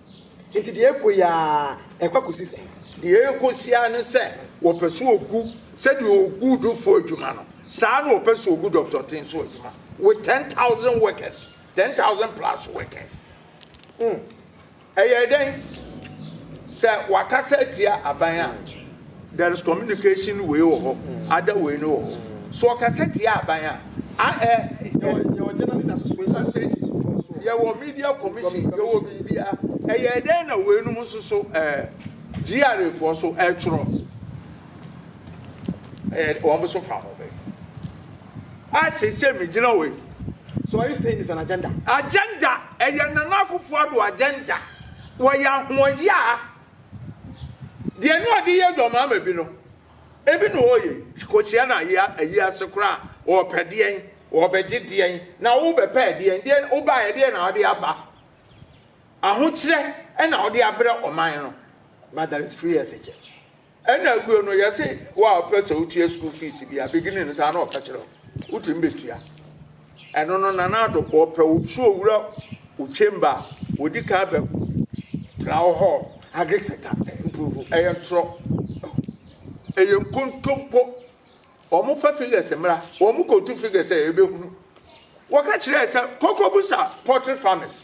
Enti deɛ ɛrekɔ yi ara, ɛrekɔ akɔsi sɛn? Deɛ ɛrekɔ si ara ne sɛ wɔpɛ sɛ wɔgu sɛdeɛ wɔgu dufo adwuma no, saa na wɔpɛ sɛ wɔgu Dɔkta Ɔte nso adwuma with ten thousand workers, ten thousand plus workers. Hmm. Ɛyɛ dɛn sɛ wɔakasa atia aban a There is communication wei wɔ hɔ, ada wei no wɔ hɔ. So ɔkasa tia aban a, a ɛ. Yɛwɔ journalist associations foɔ so. Yɛwɔ media commission, yɛwɔ biribia. Ɛyɛ dɛn na wei nom nso so ɛɛ GRA foɔ so ɛtwerɛ. Ɛyɛ wɔn nso fa ho bɛ. A sese mi gyina wei. So are you saying it's an agenda? Agenda, ɛyɛ Nana Akufo-Addo agenda. Wɔyɛ ahoɔyaa. Deɛ na ɔde yɛ dwɔmaa ma bi no, ebi na ɔreyɛ yi. Kɔhyia no ayi ase koraa a, ɔrepɛ deɛn? Ɔrebɛgye deɛn? Na worebɛpɛ ɛdeɛn? Deɛn wobaeɛ ɛdeɛn na wode aba? Ahokyerɛ na wode abrɛ ɔman no. But there is free SHS. Ɛna awuo no yɛse wo a wopɛ sɛ wotua school fees bi a, beginning no saa na ɔka kyerɛ wo, wotumi bɛtua. Ɛno no Nana Addo bɔ pɛ otu owura wo chamber a odi kan bɛ tena wo hɔ agric sector improve ɛyɛ ntorɔ ɛyɛ nkontompo wɔn fa figures mmra wɔn kɔtu figures a ɛbɛhunu wɔka kyerɛ sɛ koko busa poultry farmers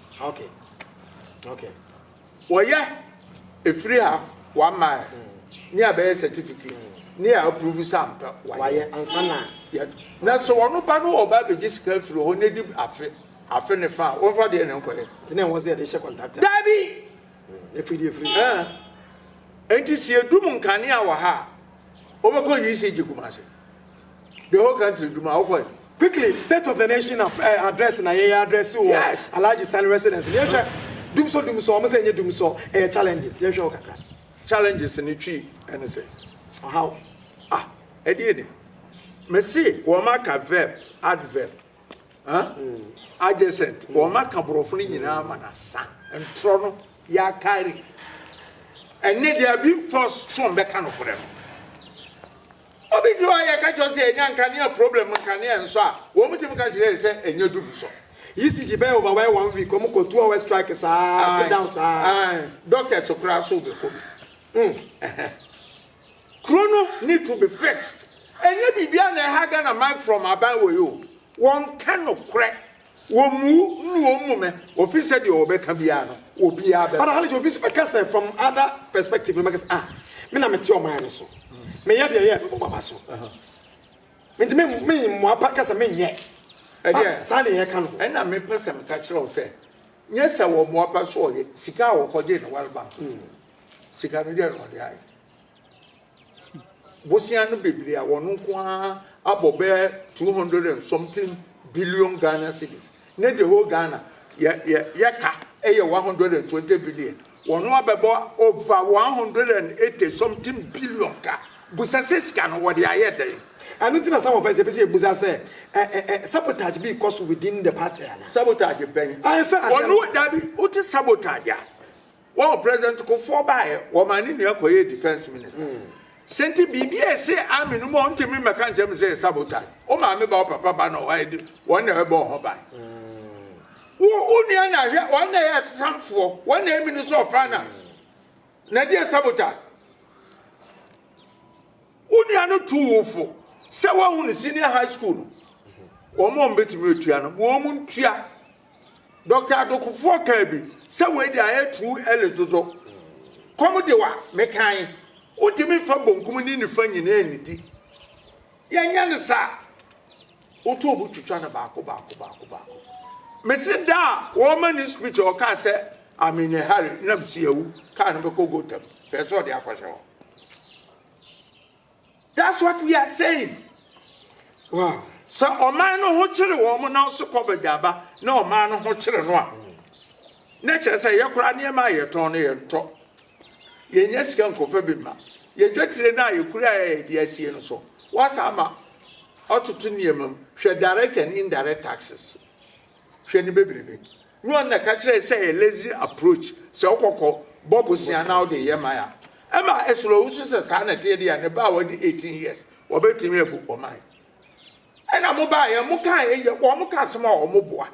Wɔyɛ efiri a wama ɛ ne a bɛyɛ certificate ne a approve sɛ ampa wayɛ ansa na yɛ na sɛ wɔn ba no ɔba abɛgye sika afiri hɔ n'edi afe afe ne fa a wɔnfa deɛ ne nkɔyɛ. Nti na ɛwɔ sɛ yɛde hyɛ kɔntrakta. Daabi. Efiri deɛ efiri. Ɛɛ nti si edum nkanea wɔ ha a wɔbɛkɔ UCG Kumasi. The whole country dwuma a wokɔe. Quickly state of the nation of eh, address na yɛyɛ address wɔ yes. Alhaji Sani residence no yɛhwɛ dumsɔ dumsɔ ɔmo sɛ ɛnyɛ dumsɔ ɛyɛ challenges yɛhwɛ wɔ kakra. Challenges no twi ɛne sɛ ɔhaw ah ɛdeɛ ni mesi wɔn aka verb adverb huh? mm. adjacent mm. wɔn aka borɔfo no nyinaa ma na sa ntorɔ no yɛakari ɛne deɛ bi force strong bɛka no korɛ no Obi fi hɔ a yɛ ka kyerɛ sɛ enya nkanea problem nkanea nsɔ a wɔn tim ka kyerɛ yɛ sɛ ɛnyɛ dum nsɔ. ECG bɛyɛ over wɛyɛ one week wɔn kɔ two hours strike saa sit down saa. Ae doctors koraa so bɛ kɔ bi mm ɛhɛn. Kuro no need to be fixed ɛnyɛ biribiara na ɛha Ghana man from aban wɔ yi o wɔn ka nokorɛ. Wɔmmu nnu wɔn mu mɛ, wɔfiri sɛ deɛ wɔbɛka biara no, obiara bɛba. But Halleja obi nso bɛka sɛ from other perspective no bɛka sɛ ah me na mete ɔman no so, meyɛ deɛ ɛyɛ a mɛbɔ m'aba so. Nti me me mmoa pa ka sɛ menyɛ. Ɛdeɛ saa na yɛka no. Ɛna mepɛ sɛ meka kyerɛ wo sɛ nyɛ sɛ wɔmmoa pa so ɔyɛ, sika a wɔkɔgyee no World Bank no, sika no deɛ na ɔde ayɛ. Bosea no bebree a wɔn nko ara abɔ bɛyɛ two hundred and something billion Ghana cedis ne the whole Ghana yɛ yɛ yɛka yɛ one hundred and twenty billion. Wɔn abɛbɔ over one hundred and eighty something billion ka. Busa sɛ sika no wɔde ayɛ dɛn? Ɛno nti na some of us yɛpɛ sɛ yɛbusa sɛ ɛ ɛ ɛ sabotage bi rekɔ so within the party anaa? Sabotage bɛn? Ayɛ sɛ adeɛ no. Wɔn dabi wote sabotage a. Wɔn president Kufuor baeɛ, wɔmaa ne nua kɔyɛɛ defence minister. Sɛ nti biribi a ɛse army no mu a ɔntumi mmɛka nkyerɛ me sɛ ɛyɛ sabotage. Wo maame ba, wo papa ba na wɔayɛ de, wɔn na ɛbɛbɔ wo ho ban. Wo wo nua na hwɛ, wɔn na ɛyɛ atesamfoɔ, wɔn na ɛyɛ minister of finance. Na ɛde yɛ sabotage. Wo nua no tu wo fo sɛ wɔahu no senior high school no. Wɔn a wɔbɛtumi atua no, wɔn ntua. Dɔkta Adokofoɔ kaa bi sɛ wei deɛ ayɛ too early dodo. Kɔm de wa mekae, wontumi mfa bonkum ne nifa nyinaa nnidi. Yɛnyɛ no saa. Woto obu twitwa no baako baako baako baako. Mese da a wɔma ne speech a ɔkaa sɛ I'm in a hurry na msi awu kaa no bɛkɔ Gotham. Hwɛ sɛ ɔde akɔhyɛ hɔ. That's what we are saying. Wow. Sɛ ɔman no ho kyere wɔn na ɔso covid aba na ɔman no ho kyere no a na kyerɛ sɛ yɛ koraa nneɛma a yɛtɔn no yɛntɔ. Yɛnyɛ sika nkɔfa bi ma. Yɛdwatire no a yɛkura a yɛde asie no so. Wasa ama ɔtoto nneɛma mu. Hwɛ direct and indirect taxes. Hwɛ ne bebrebe. Luan na ɛka kyerɛɛ sɛ ɛyɛ lazy approach sɛ wokɔ kɔ bɔ bosea na wode yɛ man a. Ɛma ɛsere wo nso sɛ saa na ɛteɛ deɛ a ne ba a wadi 18 years wɔbɛtumi abu ɔman. Ɛna mo baeɛ mo kaa ɛyɛ wɔn ka asɛm a wɔn boa.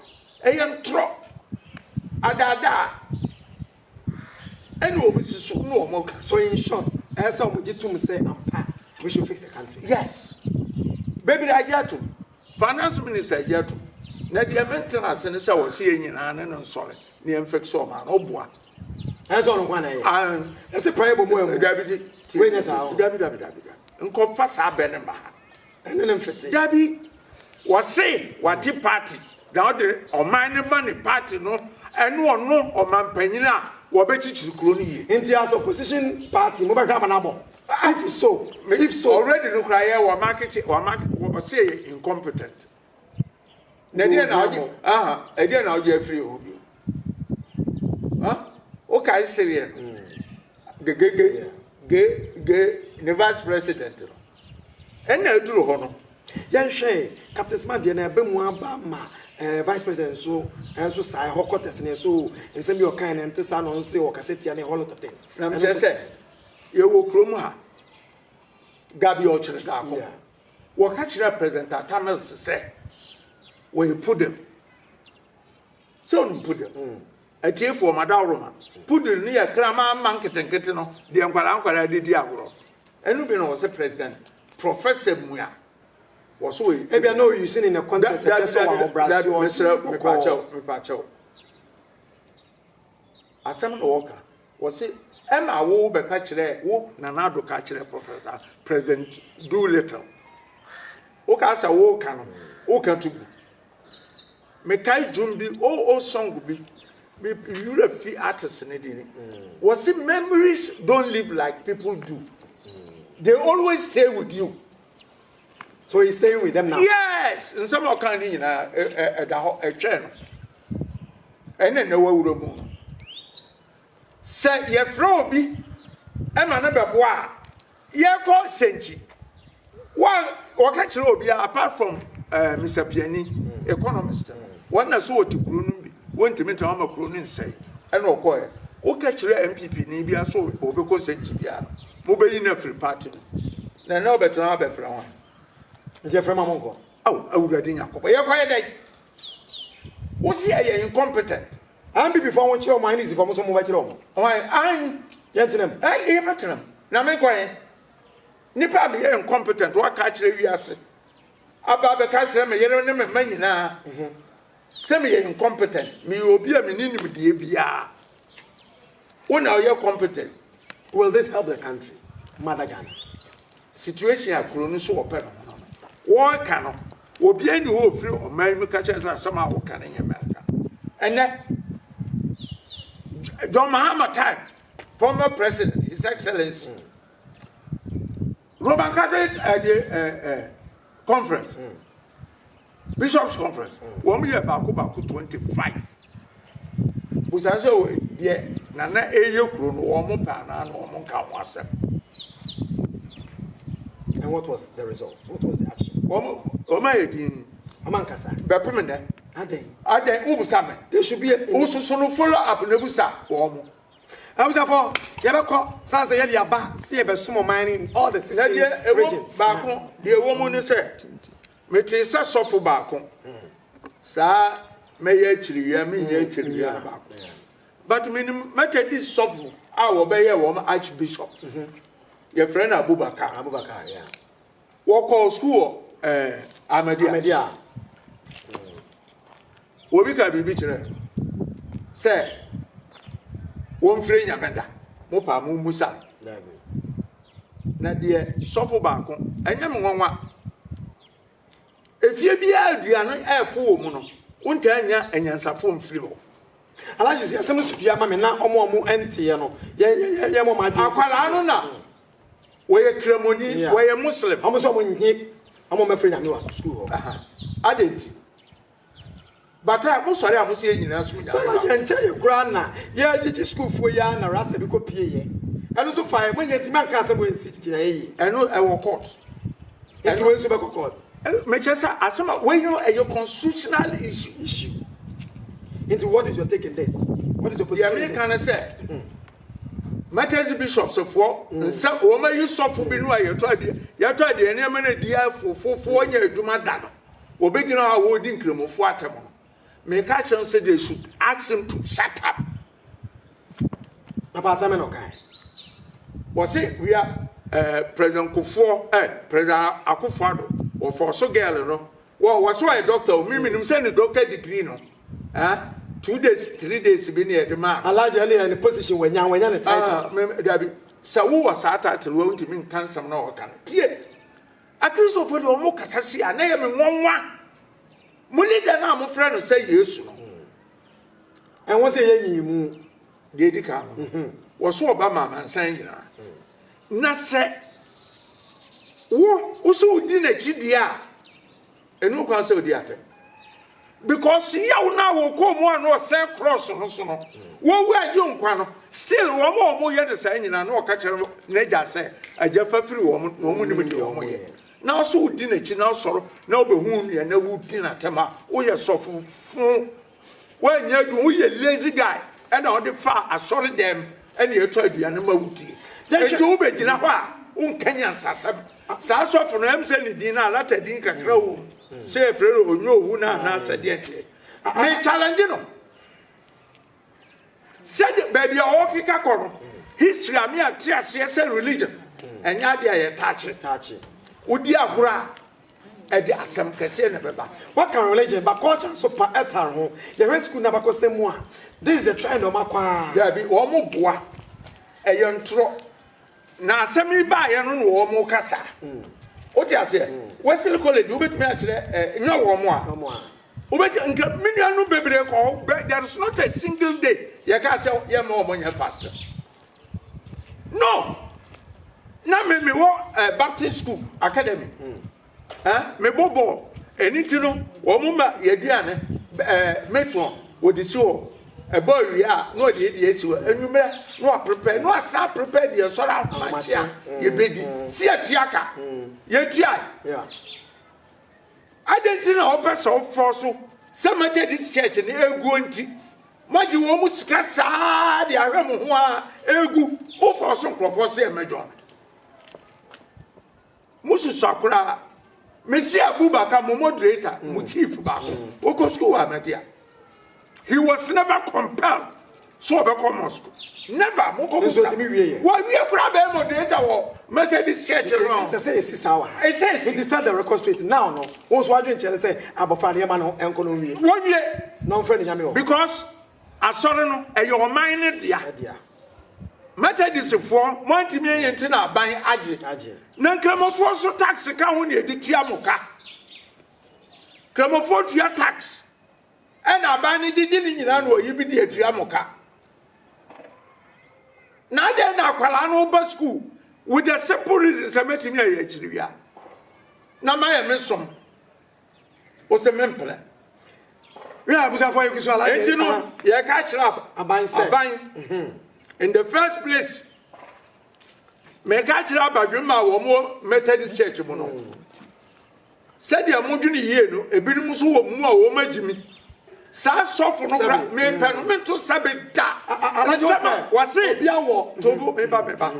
Ɛyɛ ntorɔ. Adaadaa. Ɛna ɔmo susu na ɔmo ka so in short ɛyɛ sɛ ɔmo gye tum sɛ ampa we should fix the country yes bebree agye atum finance minister agye atum na deɛ me ntena ase ne sɛ ɔsi yɛ nyinaa ne no nsɔre ne yɛn fix ɔmo ano ɔboa. Ɛsɛ ɔno kwan na yɛ. Ah, Ɛsɛ paa yɛ bɔ mu ɛmu. dabi ti Wei nyɛ saa o. dabi dabi dabi dabi nkɔfa saa bɛ ne mba ha ɛne ne mfete. Dabi, wɔse wagye party na ɔde ɔman no ma ne party no ɛne ɔno ɔmanpanyin a wɔbɛkyikyiri kuro no yie. Nti as opposition party mo bɛhwɛ amanabɔ? If so, if so. Already no koraa yɛ wɔn akyekyere wɔn wɔse yɛ incompetent. na ɛdeɛ na wogye aha ɛdeɛ na wogye afiri hɔ bio ha wokae sereɛ no gegege ge ge ne vice president no ɛna aduru hɔ no yɛnhwɛ captain smart deɛ na ɛbɛ mu aba ma eh, vice president nso nso eh, saa ɛhɔ kɔtɛs ne so nsɛm bi ɔkan ne nte saa na ɔnse ɔkasa tia ne whole lot of things na mekyerɛ sɛ yɛwɔ kurom ha gabi ɔkyerɛ daakɔ yeah. Wɔka kyerɛɛ President Atta Mills sɛ wɔyɛ poodle. Sɛ wonim poodle? Atiefoɔ, madaworo ma. Poodle no yɛ kraman mma nketenkete no, deɛ nkwadaa nkwadaa de di agorɔ. Ɛno bi na wɔse President Professor Mua wɔse wɔyɛ poodle. Ebia na o using in a context ɛkyɛ sɛ wɔahobrasoɔ. Dabi, dabi, mesrɛ wo, mepaakyɛw, mepaakyɛw. Asɛm na wɔka. Wɔse ɛna wo bɛka kyerɛ wo Nana Addo ka kyerɛ Professor President Doolittle. Wo ka sɛ wo ka no wo ka to gu. Me kae dwom bi oh oh song bi me wura fi artist ne din. Wɔse memories don't live like people do. They always stay with you. So he's staying with them now? Yes! Nsɛm a ɔka ne nyinaa ɛda hɔ ɛtwɛn no. Ɛna ɛna wawura mu no. Sɛ yɛfrɛ obi ɛma no bɛboa a yɛkɔ sɛnkyi. Wɔka kyerɛ obi apart from uh, eh, Mr. Piani, economist, wɔn na so wɔte kuro no bi. Wontumi ntena hɔ ma kuro no nsɛe. Ɛna ɔkɔɔɛ. Woka kyerɛɛ NPP ni biara sɛ ɔbɛkɔ nsɛnkyi biara no, mobɛyi no afiri party no mu. Na ɛnɛ ɔbɛtena hɔ abɛfrɛ hwan? Nti ɛfrɛ ma monkɔ. Ao Awurade Nyankopɔn, yɛkɔ yɛ dɛn? Wose ɛyɛ incompetent. NPP foɔ wɔnkyerɛ wɔn INEC foɔ mo nso mobɛkyerɛ wɔn. Hwan? Ae, yɛntena mu. Ae, yɛbɛtena mu. Na menkɔ he? Nipa a meyɛ incompetent, woaka akyerɛ wiase, aba abɛka akyerɛ me yere ne me mma nyinaa. Sɛ meyɛ incompetent, meyɛ obi a menni nimdeɛ biara. Wo na ɔyɛ competent. Will this help the country? Mother Ghana. Situation a kuro no so wɔpɛ no ho no no. Wɔreka no, obiara nni hɔ a ɔfiri ɔman mu ka kyerɛ sɛ asɛm a woka no nyɛ mmerɛnka. Ɛnnɛ, John Mahama time, former president, his excellency, Roman Catholic ɛdeɛ ɛɛ ɛɛ conference mm. bishops conference mm. wɔn yɛ baako baako twenty five busa sɛ wɔ deɛ nana ɛyɛ kuro no wɔn mo pɛ anaa na wɔn mo nka ho asɛm. And what was the result? What was the action? Wɔn wɔn ayɛ din. Wɔn ankasa. Bɛpem nnɛ. Adɛn. Adɛn wobusa mɛ. There should be a. Wososo no follow up na ebusa wɔn mo. Abusuafo, yɛbɛkɔ san sɛ yɛde aba sɛ yɛbɛsom ɔman no in all the sixteen regions. Na deɛ ɛwɔ baako, deɛ ɛwɔ mu ne sɛ, metee sɛ sɔfo baako, saa mɛyɛ akyiriwia, menyɛ akyiriwia no baako. But menim Methodist sɔfo a wɔbɛyɛ wɔn archbishop. Yɛfrɛ no Abubakar. Abubakar, yeah. Wɔkɔɔ sukuu wɔ eh, Ahmadiyya. Ahmadiyya. Obi ka biribi kyerɛ sɛ wɔmfrɛ Nyame da, mo paa mo mmusa. Na deɛ sɔfo baako, ɛnyɛ me nwanwa. Efie biara aduane no ɛɛfo wɔ mu no, wontaa nya anyansafo mfiri hɔ. Alhaji si asɛm no so pii ama me na ɔmo a ɔmo ɛnteɛ no yɛ yɛ yɛ yɛ mo ɔmo adwene sisi. Akwadaa no na. Wɔyɛ kramoni, wɔyɛ Muslim. Wɔn sɛ wɔn nye wɔn mmɛfrɛ nyame wɔ sukuu hɔ. Aha, adɛn nti? But a, mo sɔre a mo sɛ yɛn nyinaa som nyame baako. Sɛ na yɛn nkyɛ yɛ koraa na yɛregyegye sukuufoɔ yi ara na rasta bi kɔ pie yɛ. Ɛno nso fa yɛ, mo nyɛ nti ma nka asɛm wɔ nsi gyinaeɛ yie. Ɛno ɛwɔ court. Nti wei nso bɛkɔ court. Mekyerɛ sɛ asɛm a, wei no ɛyɛ constitutional issue. Issue. Nti what is your take in this? What is your position in this? Deɛ meka ne sɛ, Martyrs Bishops foɔ mm. nsɛ wɔn ayi sɔfo bi no a yɛtɔ adeɛ yɛtɔ adeɛ nneɛma no adi afofofoɔ nyɛ adwuma da no wɔbɛgyina hɔ a wɔredi nkramofoɔ atɛm no meka kyerɛ sɛ they should ask him to shut up papa asɛm na ɔkae wɔse wia eh, president kofoɔ eh, president akofoɔ ado wɔfɔɔ so girl no wɔ wɔ so ɔyɛ doctor o memenim sɛ ne doctor degree no ah two days three days bi ne ɛde maa me. Alaji ɛne yɛ ne position wanya wanya ne title. Ah me dabi sɛ wo wɔ saa title wɔ ntumi nka nsɛm na ɔka no tie akristofo deɛ ɔmo kasa si a na yɛ me nwanwa mo leader no a mo frɛ no sɛ yesu no ɛho sɛ yɛ nyi mu deɛ di kan no mhm. wɔso ɔba ma amansan nyinaa na sɛ wo wo so wodi n'akyi deɛ a Ɛni ho kwan sɛ ɔdi atɛm. Because yaw no a wɔkɔɔ mu a na ɔsɛn cross no so no, wɔwu a ɛgye nkwa no, still wɔn a wɔyɛ no saa nyinaa na ɔka kyerɛ n'agya sɛ, agya fa firi wɔn na wɔn nim deɛ wɔn yɛ. Nanso wodi n'akyi na asɔre na wobɛhu nea na wodi n'atɛm a woyɛ sɔfo fo. Woannya adwuma, woyɛ lazy guy ɛna ɔde faa asɔre dɛm ɛna ɛtɔ aduane ma wo die. Ɛnti wo bɛ gyina hɔ a wo nka nyansasɛm. Saa sɔfo no ɛm sɛ ne din no alata din kakra wɔ mu. Sɛ yɛ frɛ no onyo owu no anaa sɛ deɛn deɛn. Me challenge no. Sɛdeɛ baabi a ɔɔkeka kɔ no history a me ante aseɛ sɛ religion ɛnyɛ adeɛ a yɛtaakye taakye wodi agorɔ a ɛde asɛm kɛseɛ na ɛbɛba. Waka religion but culture nso pa ɛtare ho yɛhwɛ school no abakɔsɛm mu a this is the trend ɔmo akɔ aa. Daabi ɔmo boa ɛyɛ ntorɔ. Na asɛm yi baeɛ no na wɔn kasa. Wote aseɛ? Wesley College, wobɛtumi akyerɛ ɛ, eh, nyɛ wɔn a. Wobɛtumi, nka me nuanom bebree kɔ hɔ, but there is not a single day yɛka sɛ yɛmma wɔn nyɛ fast. No! Na me mewɔ uh, Baptist School Academy. Mm. eh, mebɔ bɔɔl. Ɛno nti no, wɔn ma yɛaduane eh, metron, wɔde si hɔ. Ɛbɔ awie a, na wɔde yɛdi asi hɔ. Anwummerɛ, na wɔaprepare, na wɔasan aprepare deɛ sɔre ahomakye a yɛbɛdi. Si yɛtua ka. Yɛtuae. Adɛn nti na wɔpɛ sɛ wɔfɔ so sɛ Methodist Church no ɛguo nti? Moagye wɔn mu sika saa de ahwɛ mo ho a ɛgu. Mofɔ so nkurɔfoɔ sɛ ɛmɛdwɔn. Mo susua koraa. Me si Abubakar, mo moderator, mo chief baako. Wokɔ school wɔ Ahmadiyya. He was never compelled so ɔbɛkɔ mosque. Never. Mo kɔ mosque. Nso tumi wie yɛ. Wɔ wie koraa bɛyɛ moderator wɔ Methodist church no. Ɛsɛ sɛ esi saa wɔ ha. Ɛsɛ esi. Nti set the record straight now no. Wɔn nso adwene kyerɛ no sɛ abɔfra no yɛma no nkɔ na onwie. Wɔnwie. Na ɔmfrɛ no nyame wɔ hɔ. Because asɔre no ɛyɛ ɔman no dea. Ɛdea. Methodistfoɔ, moantumi anyi nti na aban agye. Na Nkramofoɔ nso tax ka ho na yɛde tua mo ka. Nkramofoɔ tua tax, ɛna aban no gyegye ne nyinaa na wɔyi bi de atua mo ka. Na adɛn na akwadaa no ba sukuu with the simple reason sɛ mɛtumi ayɛ akyiriwia na mayɛ me som Ose mempene. Wei a abusuafo ayɛ kusua alaje. Enti no yɛka kyerɛ aban sɛ. Aban. Mhm. In the first place, meka kyerɛ abadwemma a wɔn Methodist Church mu no. Mm. sɛdeɛ modwene yie no ebinom nso wɔ mu a wɔn agyi mi saa sɔfo no kora mepɛ no mento sɛbe da nsɛm a wɔse tobo meba meba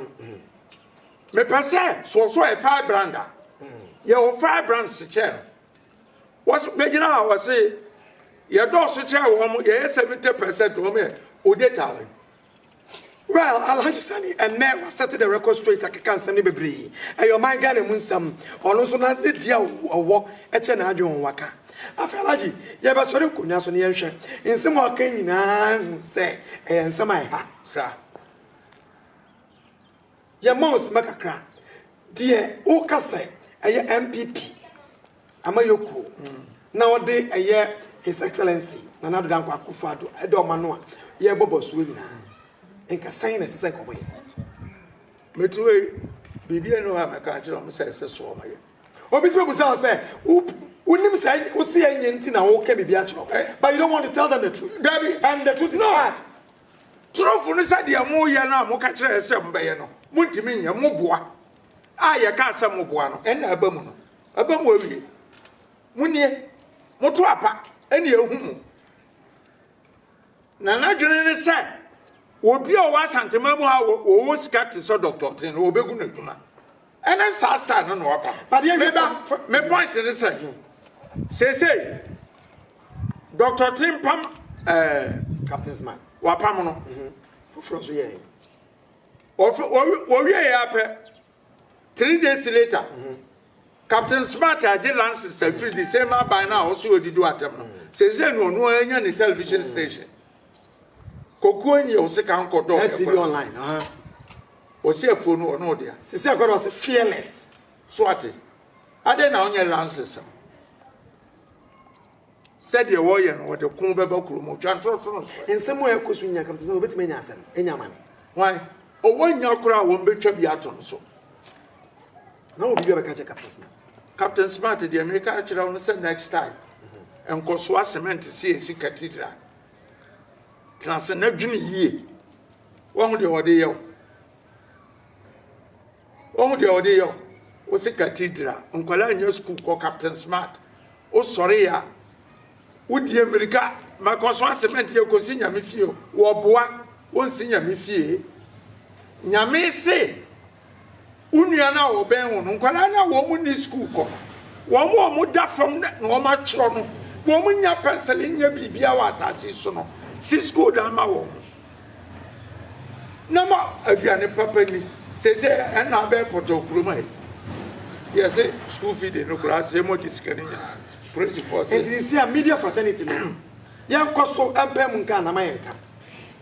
Mepɛ sɛ sɔsɔ yɛ firebrand a yɛ wɔ firebrand se kyɛɛ no wɔsi bɛgyina a wɔsi yɛ dɔɔso kyɛɛ wɔn mo yɛ yɛ seventy percent wɔn yɛ ode ta wɔn. Well, Alhaji Sani, ɛnɛ wa set the record straight akeka nsɛm ne bebree. Ɛyɛ ɔman Ghana mu nsɛm. Ɔno nso na ne deɛ ɔwɔ ɛkyɛ n'adwene wɔn waka. Afei Alhaji, yɛbɛsɔre nkonnwa so ne yɛnhwɛ. Nsɛm a ɔka nyinaa hu sɛ ɛyɛ nsɛm a ɛha. Saa. Yɛma wo sima kakra. Deɛ woka sɛ ɛyɛ NPP amayɔkuo na ɔde ɛyɛ His Excellency Nana Addo Dankwa Akuffo Addo ɛda ɔma no a yɛrebɔ bɔsoɔ nyinaa nka sɛn na ɛsɛ sɛ nka wɔyɛ? Mete wei biribi ɛnu hɔ a mɛka akyerɛ wɔn sɛ ɛsɛ so wɔyɛ. Obi ti bɛbusa wo sɛ wonim sɛ wose ɛnyɛ nti na woka biribi akyerɛ wɔn but you don't want to tell them the truth. Dabi. And the truth is hard. Torofo no sɛ deɛ moyɛ no a moka kyerɛɛ sɛ mobɛyɛ no montumi nyɛ, moboa a yɛkaa sɛ moboa no ɛnna aba mu no aba mu awie. Monie, moto apa ɛne ɛhu mu. Na n'adwene ne sɛ obi a ɔwɔ Asantema mu a ɔwɔ sika te sɛ Dɔkta Ɔtee no wɔbɛgu no adwuma. Ɛne saa style no na wafa. Meba me point ne sɛ seesei Dr. Timpam eh, Captain Smart wapam no mhm. foforɔ nso yɛɛ wɔwie yɛ apɛ three days later mhm. Captain Smart agye lances afiri the same aban no a ɔso ɔdi do atɛm no mhm. seesei no ɔno anya ne television station Kokuo nyi ɔse ka nkɔ dɔ ɛkɔ. STB online aha. Ɔse afuo no ɔno ɔdea. Sisi akɔ dɔ ɔse fearless. So ate. Adɛn na ɔnyɛ lances no. Sɛdeɛ wɔyɛ no wɔde ko bɛba kuro mu twa ntorotoro so. Nsɛm a ɛkɔ so nya kam te sɛ wɔbɛtumi anya asɛm anya amane. Hwan? Ɔwɔ nya koraa wɔn bɛtwa bi ato no so. Na wɔ biribi a bɛka kyɛ Captain Smart. Captain Smart deɛ meka akyerɛ wo no sɛ next time. Nkɔsoa cement si esi cathedral. Tena ase na dwene yie. Woahu deɛ wɔde yɛ wo? Woahu deɛ wɔde yɛ wo? Wo se cathedral, nkwadaa nyɛ sukuu kɔ Captain Smart. Wosɔre yɛ a, wodi mmirika ma kɔ so asement yɛ kɔsi nyame fie. Wɔboa, wonsi nyame fie. Nyame se Wo nua no a ɔbɛn wo no, nkwadaa no a wɔn nni sukuu kɔ, wɔn a wɔda fam na wɔatwerɛ no, wɔn nnya pɛnsele nyɛ biribiara wɔ asase so no, si sukuu dan ma wɔn. Na ma aduane papa ni. Sese ɛna abɛɛ pɔtɔ kurom ayi. Yɛse sukuu fi de no koraa sɛ yɛmɔ de sika no nyinaa. Polisifoɔ sɛ. Nti sisi a media fraternity no, yɛnkɔ so mpae mu nka anama yɛnka.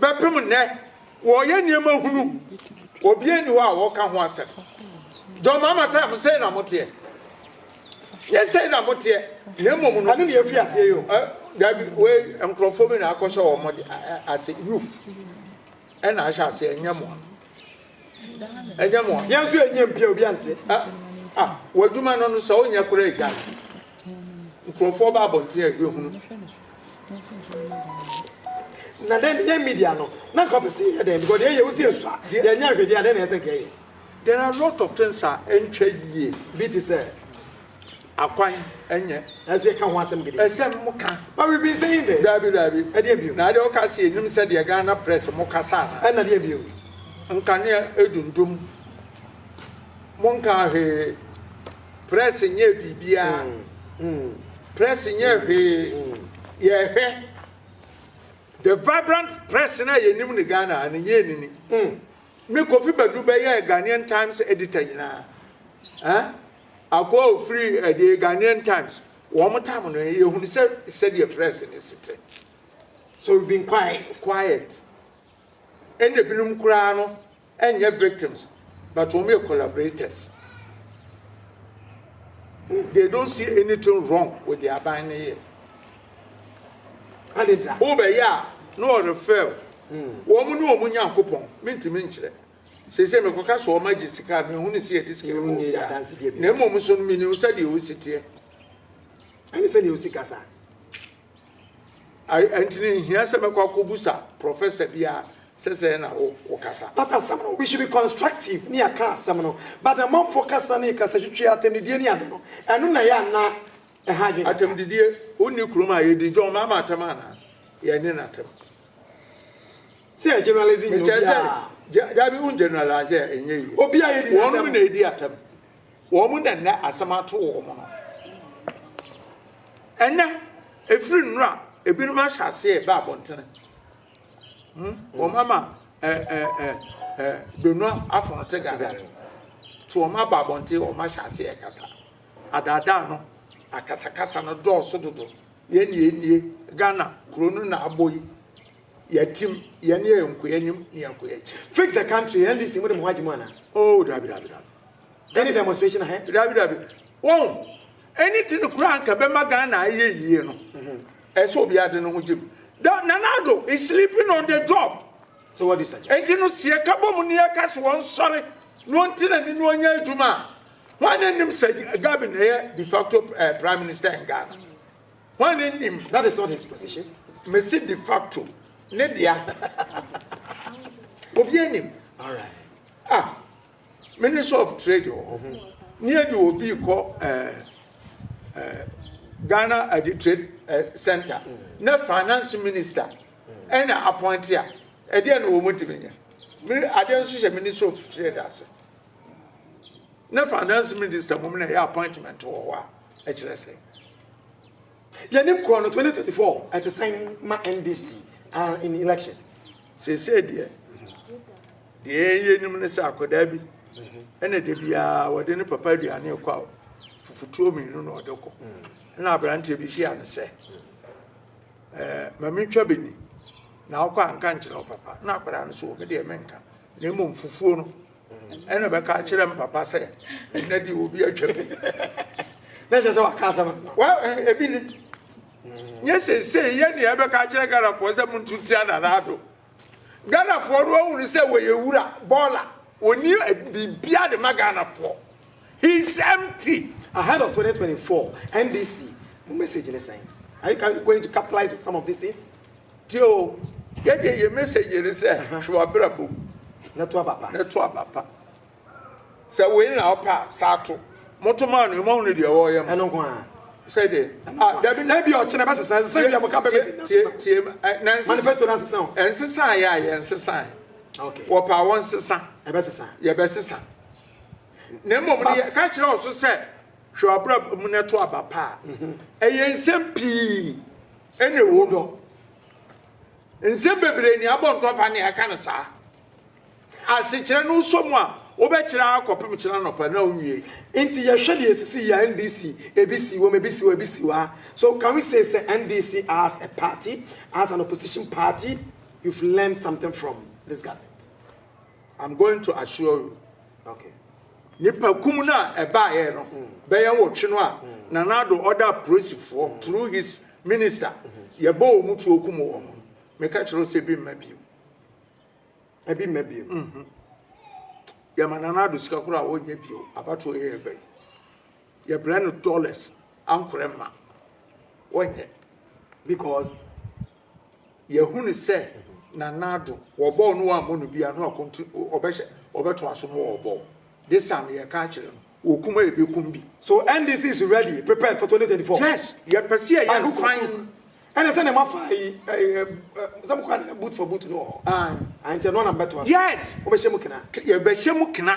Bɛpem nnɛ, wɔreyɛ nneɛma hunu. Obiara nni hɔ a wɔka ho asɛm. John Mahama sɛ mo sɛe na moteɛ. Nyɛ sɛe na moteɛ, na mmom no. Ɛno na yɛfi aseɛ yi o. Dabi, wei nkurɔfoɔ bi na akɔhyɛ wɔn ase, youth ɛna ahyɛ aseɛ, ɛnyɛ mo a. ɛnyɛ mo yɛn nso yɛnyɛ mpia obi ante a w'adwuma no no sɛ wonyɛ koraa agya nkurɔfoɔ ba abɔnten a ɛbɛhunu na dɛn yɛ media no na nka pɛ sɛ yɛyɛ dɛn because yɛyɛ wo sɛ yɛsu a yɛnyɛ ahwɛdeɛ a dɛn na ɛsɛ nka yɛyɛ there are a lot of things a ɛntwa yie bi te sɛ akwan ɛnyɛ. Nanso yɛ ka ho asɛm gidi. Ɛsɛ mo ka. But we've been saying this. Daabi daabi. Ɛdeɛ bio. Na adeɛ wo ka se yɛ nim sɛ deɛ Ghana press mo kasa ana. Ɛna deɛ bio. Nkanea ɛdundum. Mo nkaa hwee. Press nyɛɛ biribiaa. Press nyɛɛ hwee. Yɛ hwɛ. The vibrant press na yɛ nim ne Ghana ha no nyɛɛ nini. Me Kofi Badu bɛyɛɛ Ghanaian Times editor nyinaa. Eh? Akoa a ɔfiri The Ghanaian Times, Wɔn tam no, yɛhunu sɛ sɛdeɛ press no si te. So we've been quiet. Quiet. Ɛna ebinom koraa no ɛnyɛ victims but wɔn yɛ collaborators. They don't see anything wrong with the aban no yɛ. Adeda. Wobɛyɛ a na ɔrefɛl. Wɔn ne wɔn Nyankopɔn, mentumi nkyerɛ. Seesei mekɔka sɛ wɔagye sika a, menhunu sɛ yɛde sika ma obiara, na mmom nso no, menim sɛdeɛ ɔsi teɛ. Ɛne sɛdeɛ ɔsi kasa. Ɛnti no, ɛnhia sɛ mɛkɔ akɔbusa prɔfɛsa biara sɛ sɛɛ na wokasa. But asɛm no, we should be constructive ne yɛaka asɛm no, but amanfoɔ kasa ne kasatwitwi, atɛmdidie ne ade no, ɛno na ɛyɛ anaa ɛha adwene kakra? Atɛmdidie? Wonni kurom a yɛdi John Mahama atɛm anaa? Yɛne no atɛm. Sɛ yɛ generalize nyɛ obiara. Mekyerɛ sɛ, dabi wo generalize a ɛnyɛ yie. Obiara yɛ di n'atam. Wɔnom na ɛdi atam. Wɔnom na nnɛ asɛm ato wɔn no. Ɛnɛ, ɛfiri nnora, ebinom ahyɛ aseɛ ɛbɛ abɔntene. Hmm? Wɔn ama donua afono te gada. So wɔn aba abɔnten wɔn ahyɛ aseɛ ɛkasa. Adaadaa no, akasakasa no dɔɔso dodo. Yɛn yɛn nie, Ghana kuro no na abɔ yi. Yɛatim, yɛn ne yɛn nkɔ anim ne yɛn nkɔ akyi. Fix the country, NDC mo de mo ho agye mu ana? Oh, dabi dabi dabi. Any demonstration ahe? Dabi dabi. Wɔn, ɛni ti no kura nka bɛma Ghana ayɛ yie no. Mhm. Ɛsɛ obi ade no ho gye mu. Nanado is sleeping on the job. So what do you say? Enti no seɛ ka bɔ mu ne yɛ ka so wɔn sɔre na wɔn ti na ni na wɔn nyɛ adwuma a. Wɔn anim sɛ Gabin ɛyɛ de facto eh, prime minister in Ghana. Hwan ne nim that is not his position mesi de facto ne dea obi anim alright ah minister of trade wɔ oh, ho ne adi obi kɔ ɛɛ eh, ɛɛ eh, ghana adi eh, trade ɛɛ center ne finance minister ɛna appointee a ɛdeɛ na wɔn ntumi nyɛ adeɛ nso hyɛ minister of trade ase. Ne finance minister mmom na ɛyɛ appointment wɔ hɔ a ɛkyerɛ sɛ yɛne korɔ no 2034 ɛte sɛn ma NDC are in election. Seesei deɛ deɛ yɛnim ne sɛ akwadaa bi ɛna da biara wɔde ne papa aduane rekɔ a fufutuo mmienu na ɔde kɔ na aberanteɛ bi hyia no sɛ ɛɛ ma mentwa bɛni na wokɔ anka nkyerɛ wo papa na akwadaa no so wɔ me deɛ menka na mmom fufuo no ɛna ɔbɛka akyerɛ m papa sɛ ɛnɛ deɛ obi atwa mu na kyɛ sɛ waka asɛm ebi ne nyɛ seesei yɛ ne ɛbɛka akyerɛ ghanafoɔ sɛ monto tia nanaado ghanafoɔ no ahunu sɛ wɔyɛ wura bɔɔla wɔni biribia de ma ghanafoɔ he is empty ahead of 2024 ndc mo message ne sɛn are you going to capitalize some of these things Tie o, yɛdeɛ yɛ message ne sɛ hwɛ w'abrabɔ mu na to aba pa. Na to aba pa. Sɛ wei na ɔpɛ a saa to. Moto maa no ɛmɔ hunu deɛ wɔyɛ mo. Ɛno nko a. Sɛ deɛ. Ah, dabi na bi ɔkyena bɛsesa nsesa bi a mo ka bɛbɛsi. Tie tie na nsesa. Manifesto na nsesa o. Nsesa yɛ a yɛ nsesa. Okay. Wɔpɛ a wɔnsesa. Ɛbɛsesa. Yɛbɛsesa. Na mmom no yɛ ka kyerɛ ɔso sɛ hwɛ w'abrabɔ mu na to aba pa. Ɛyɛ nsɛm pii. Ɛne wo dɔ. Nsɛm bebree ne abɔ ntɔ fa ne ɛka no saa. Asekyerɛ no wosɔ mu a, wobɛkyerɛ ara kɔpem kyena anɔpa na wonwie. Nti yɛhwɛ deɛ ɛsisi yi a NDC ebi si wom ebi si hɔ ebi si hɔ a so can we say sɛ NDC as a party as an opposition party you've learned something from this government? I'm going to assure you okay nipa kum no a ɛbaeɛ no bɛyɛ nwɔtwe no a Nana Addo ɔda apolisifoɔ through his minister yɛbɔ wɔn mu tuo kum wɔn no meka kyerɛ wo sɛ ebi mma bio ebi mma bio mhm. yɛma Nana Addo sika koro a wɔnyɛ bio abatoɔ yɛ yɛba yi yɛbrɛ no dollars ankorɛ ma wɔnyɛ because Yɛahunu sɛ Nana Addo, wɔbɔɔ no wɔammɔ no bi a, na ɔkonti ɔbɛhyɛ ɔbɛtoa so ma wɔbɔɔ. This time yɛreka akyerɛ no, wɔkum a yɛbɛkum bi. So NDC is ready, prepared for 2024? Yes, yɛpɛ sɛ yɛyɛ no fann. Ɛna sɛ nea mafa yi sɛ mokɔ anana boot for boot no wɔ hɔ nti ɛno na mɛtoa so. Yes. Wobɛhyɛ mu kena? Yɛbɛhyɛ mu kena.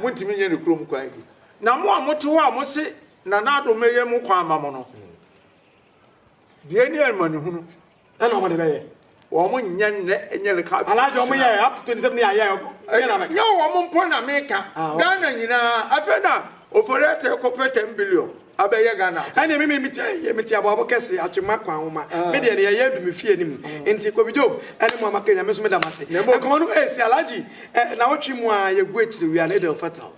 Montumi nyɛ no kurom kwan yi. Na mo a mote hɔ a mose Nana Addo mmɛyɛ mo kwan ama mo no, deɛ ni amanehunu. Ɛna wɔn de bɛyɛ. Wɔn nyɛ nnɛ nyɛ leka. Alaagye wɔn yɛ up to twenty seven yɛ ayɛ. Nyɛ wɔn mpo na meka. Ghana nyinaa afei na ofori ɛtɛ kɔpɛ ten billion. Abɛyɛ Ghana akɔ. Ɛneɛ me mete ha yie, mete aboabo kɛse, atwema, kwanwoma, me deɛ neɛ ɛyɛ adu me fie no mu, nti Kobe Job ɛne mo a moaka yi Nyame nso meda mo ase. Nkɔmmɔ no ɛɛsi Alhaji nawɔtwe mu aa yɛgu akyire, we are an Eid El Fatal.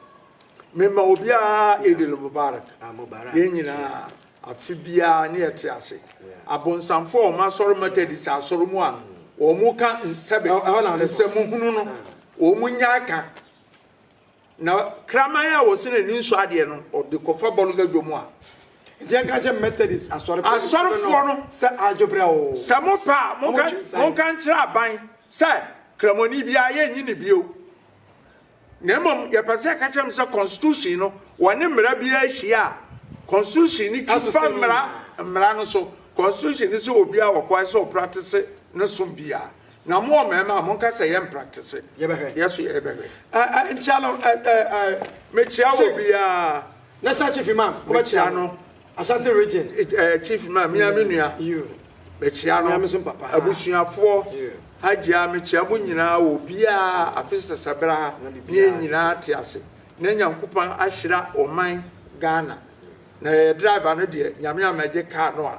Mema obiara Eid El Mubarak, yɛn nyinaa afe biara ne yɛte ase, abonsamfoɔ a wɔn asɔre Methodist asɔre mu a wɔn ka nsɛm, nsɛm hunu no wɔn nyaa ka, Na kraman a wɔse na ani nsɔ adeɛ no, ɔde kɔfa bɔ no badwa mu a. Nti yɛnka nkyerɛ Methodist asɔrefoɔ no Asɔrefoɔ no sɛ adwo berɛ o. Sɛ mopɛ a, monka Wɔtwe nsan. monka nkyerɛ aban sɛ Kramoni biara, yɛnnye no bio. Na mmom, yɛpɛ sɛ yɛka kyerɛ mo sɛ Constitution no, wɔne mmara biara hyia a, Constitution no Ɛso fa sɛ mmara nyinaa. mmara no so. Constitution no se obiara wɔ kwan sɛ ɔpratese ne som biara. Na mo ɔmarima monka sɛ yɛ mpraktese yɛbɛhwɛ yɛ so yɛ yɛbɛhwɛ. Ɛ ɛ nkyia no ɛ ɛ ɛ. Mekyia wɔ biaa. National chief imam wobɛkyia no. Ashanti region. Ɛ ɛ chief imam mia me nua. You. Mekyia no. Mia me so papa. Abusuafoɔ. You. Hajia mekyia mo nyinaa wɔ biaa afe sɛsɛ bra ha na yɛ nyinaa te ase na Nyankupan ahyira ɔman Ghana na yɛyɛ driver no deɛ Nyame ammɛgye car no a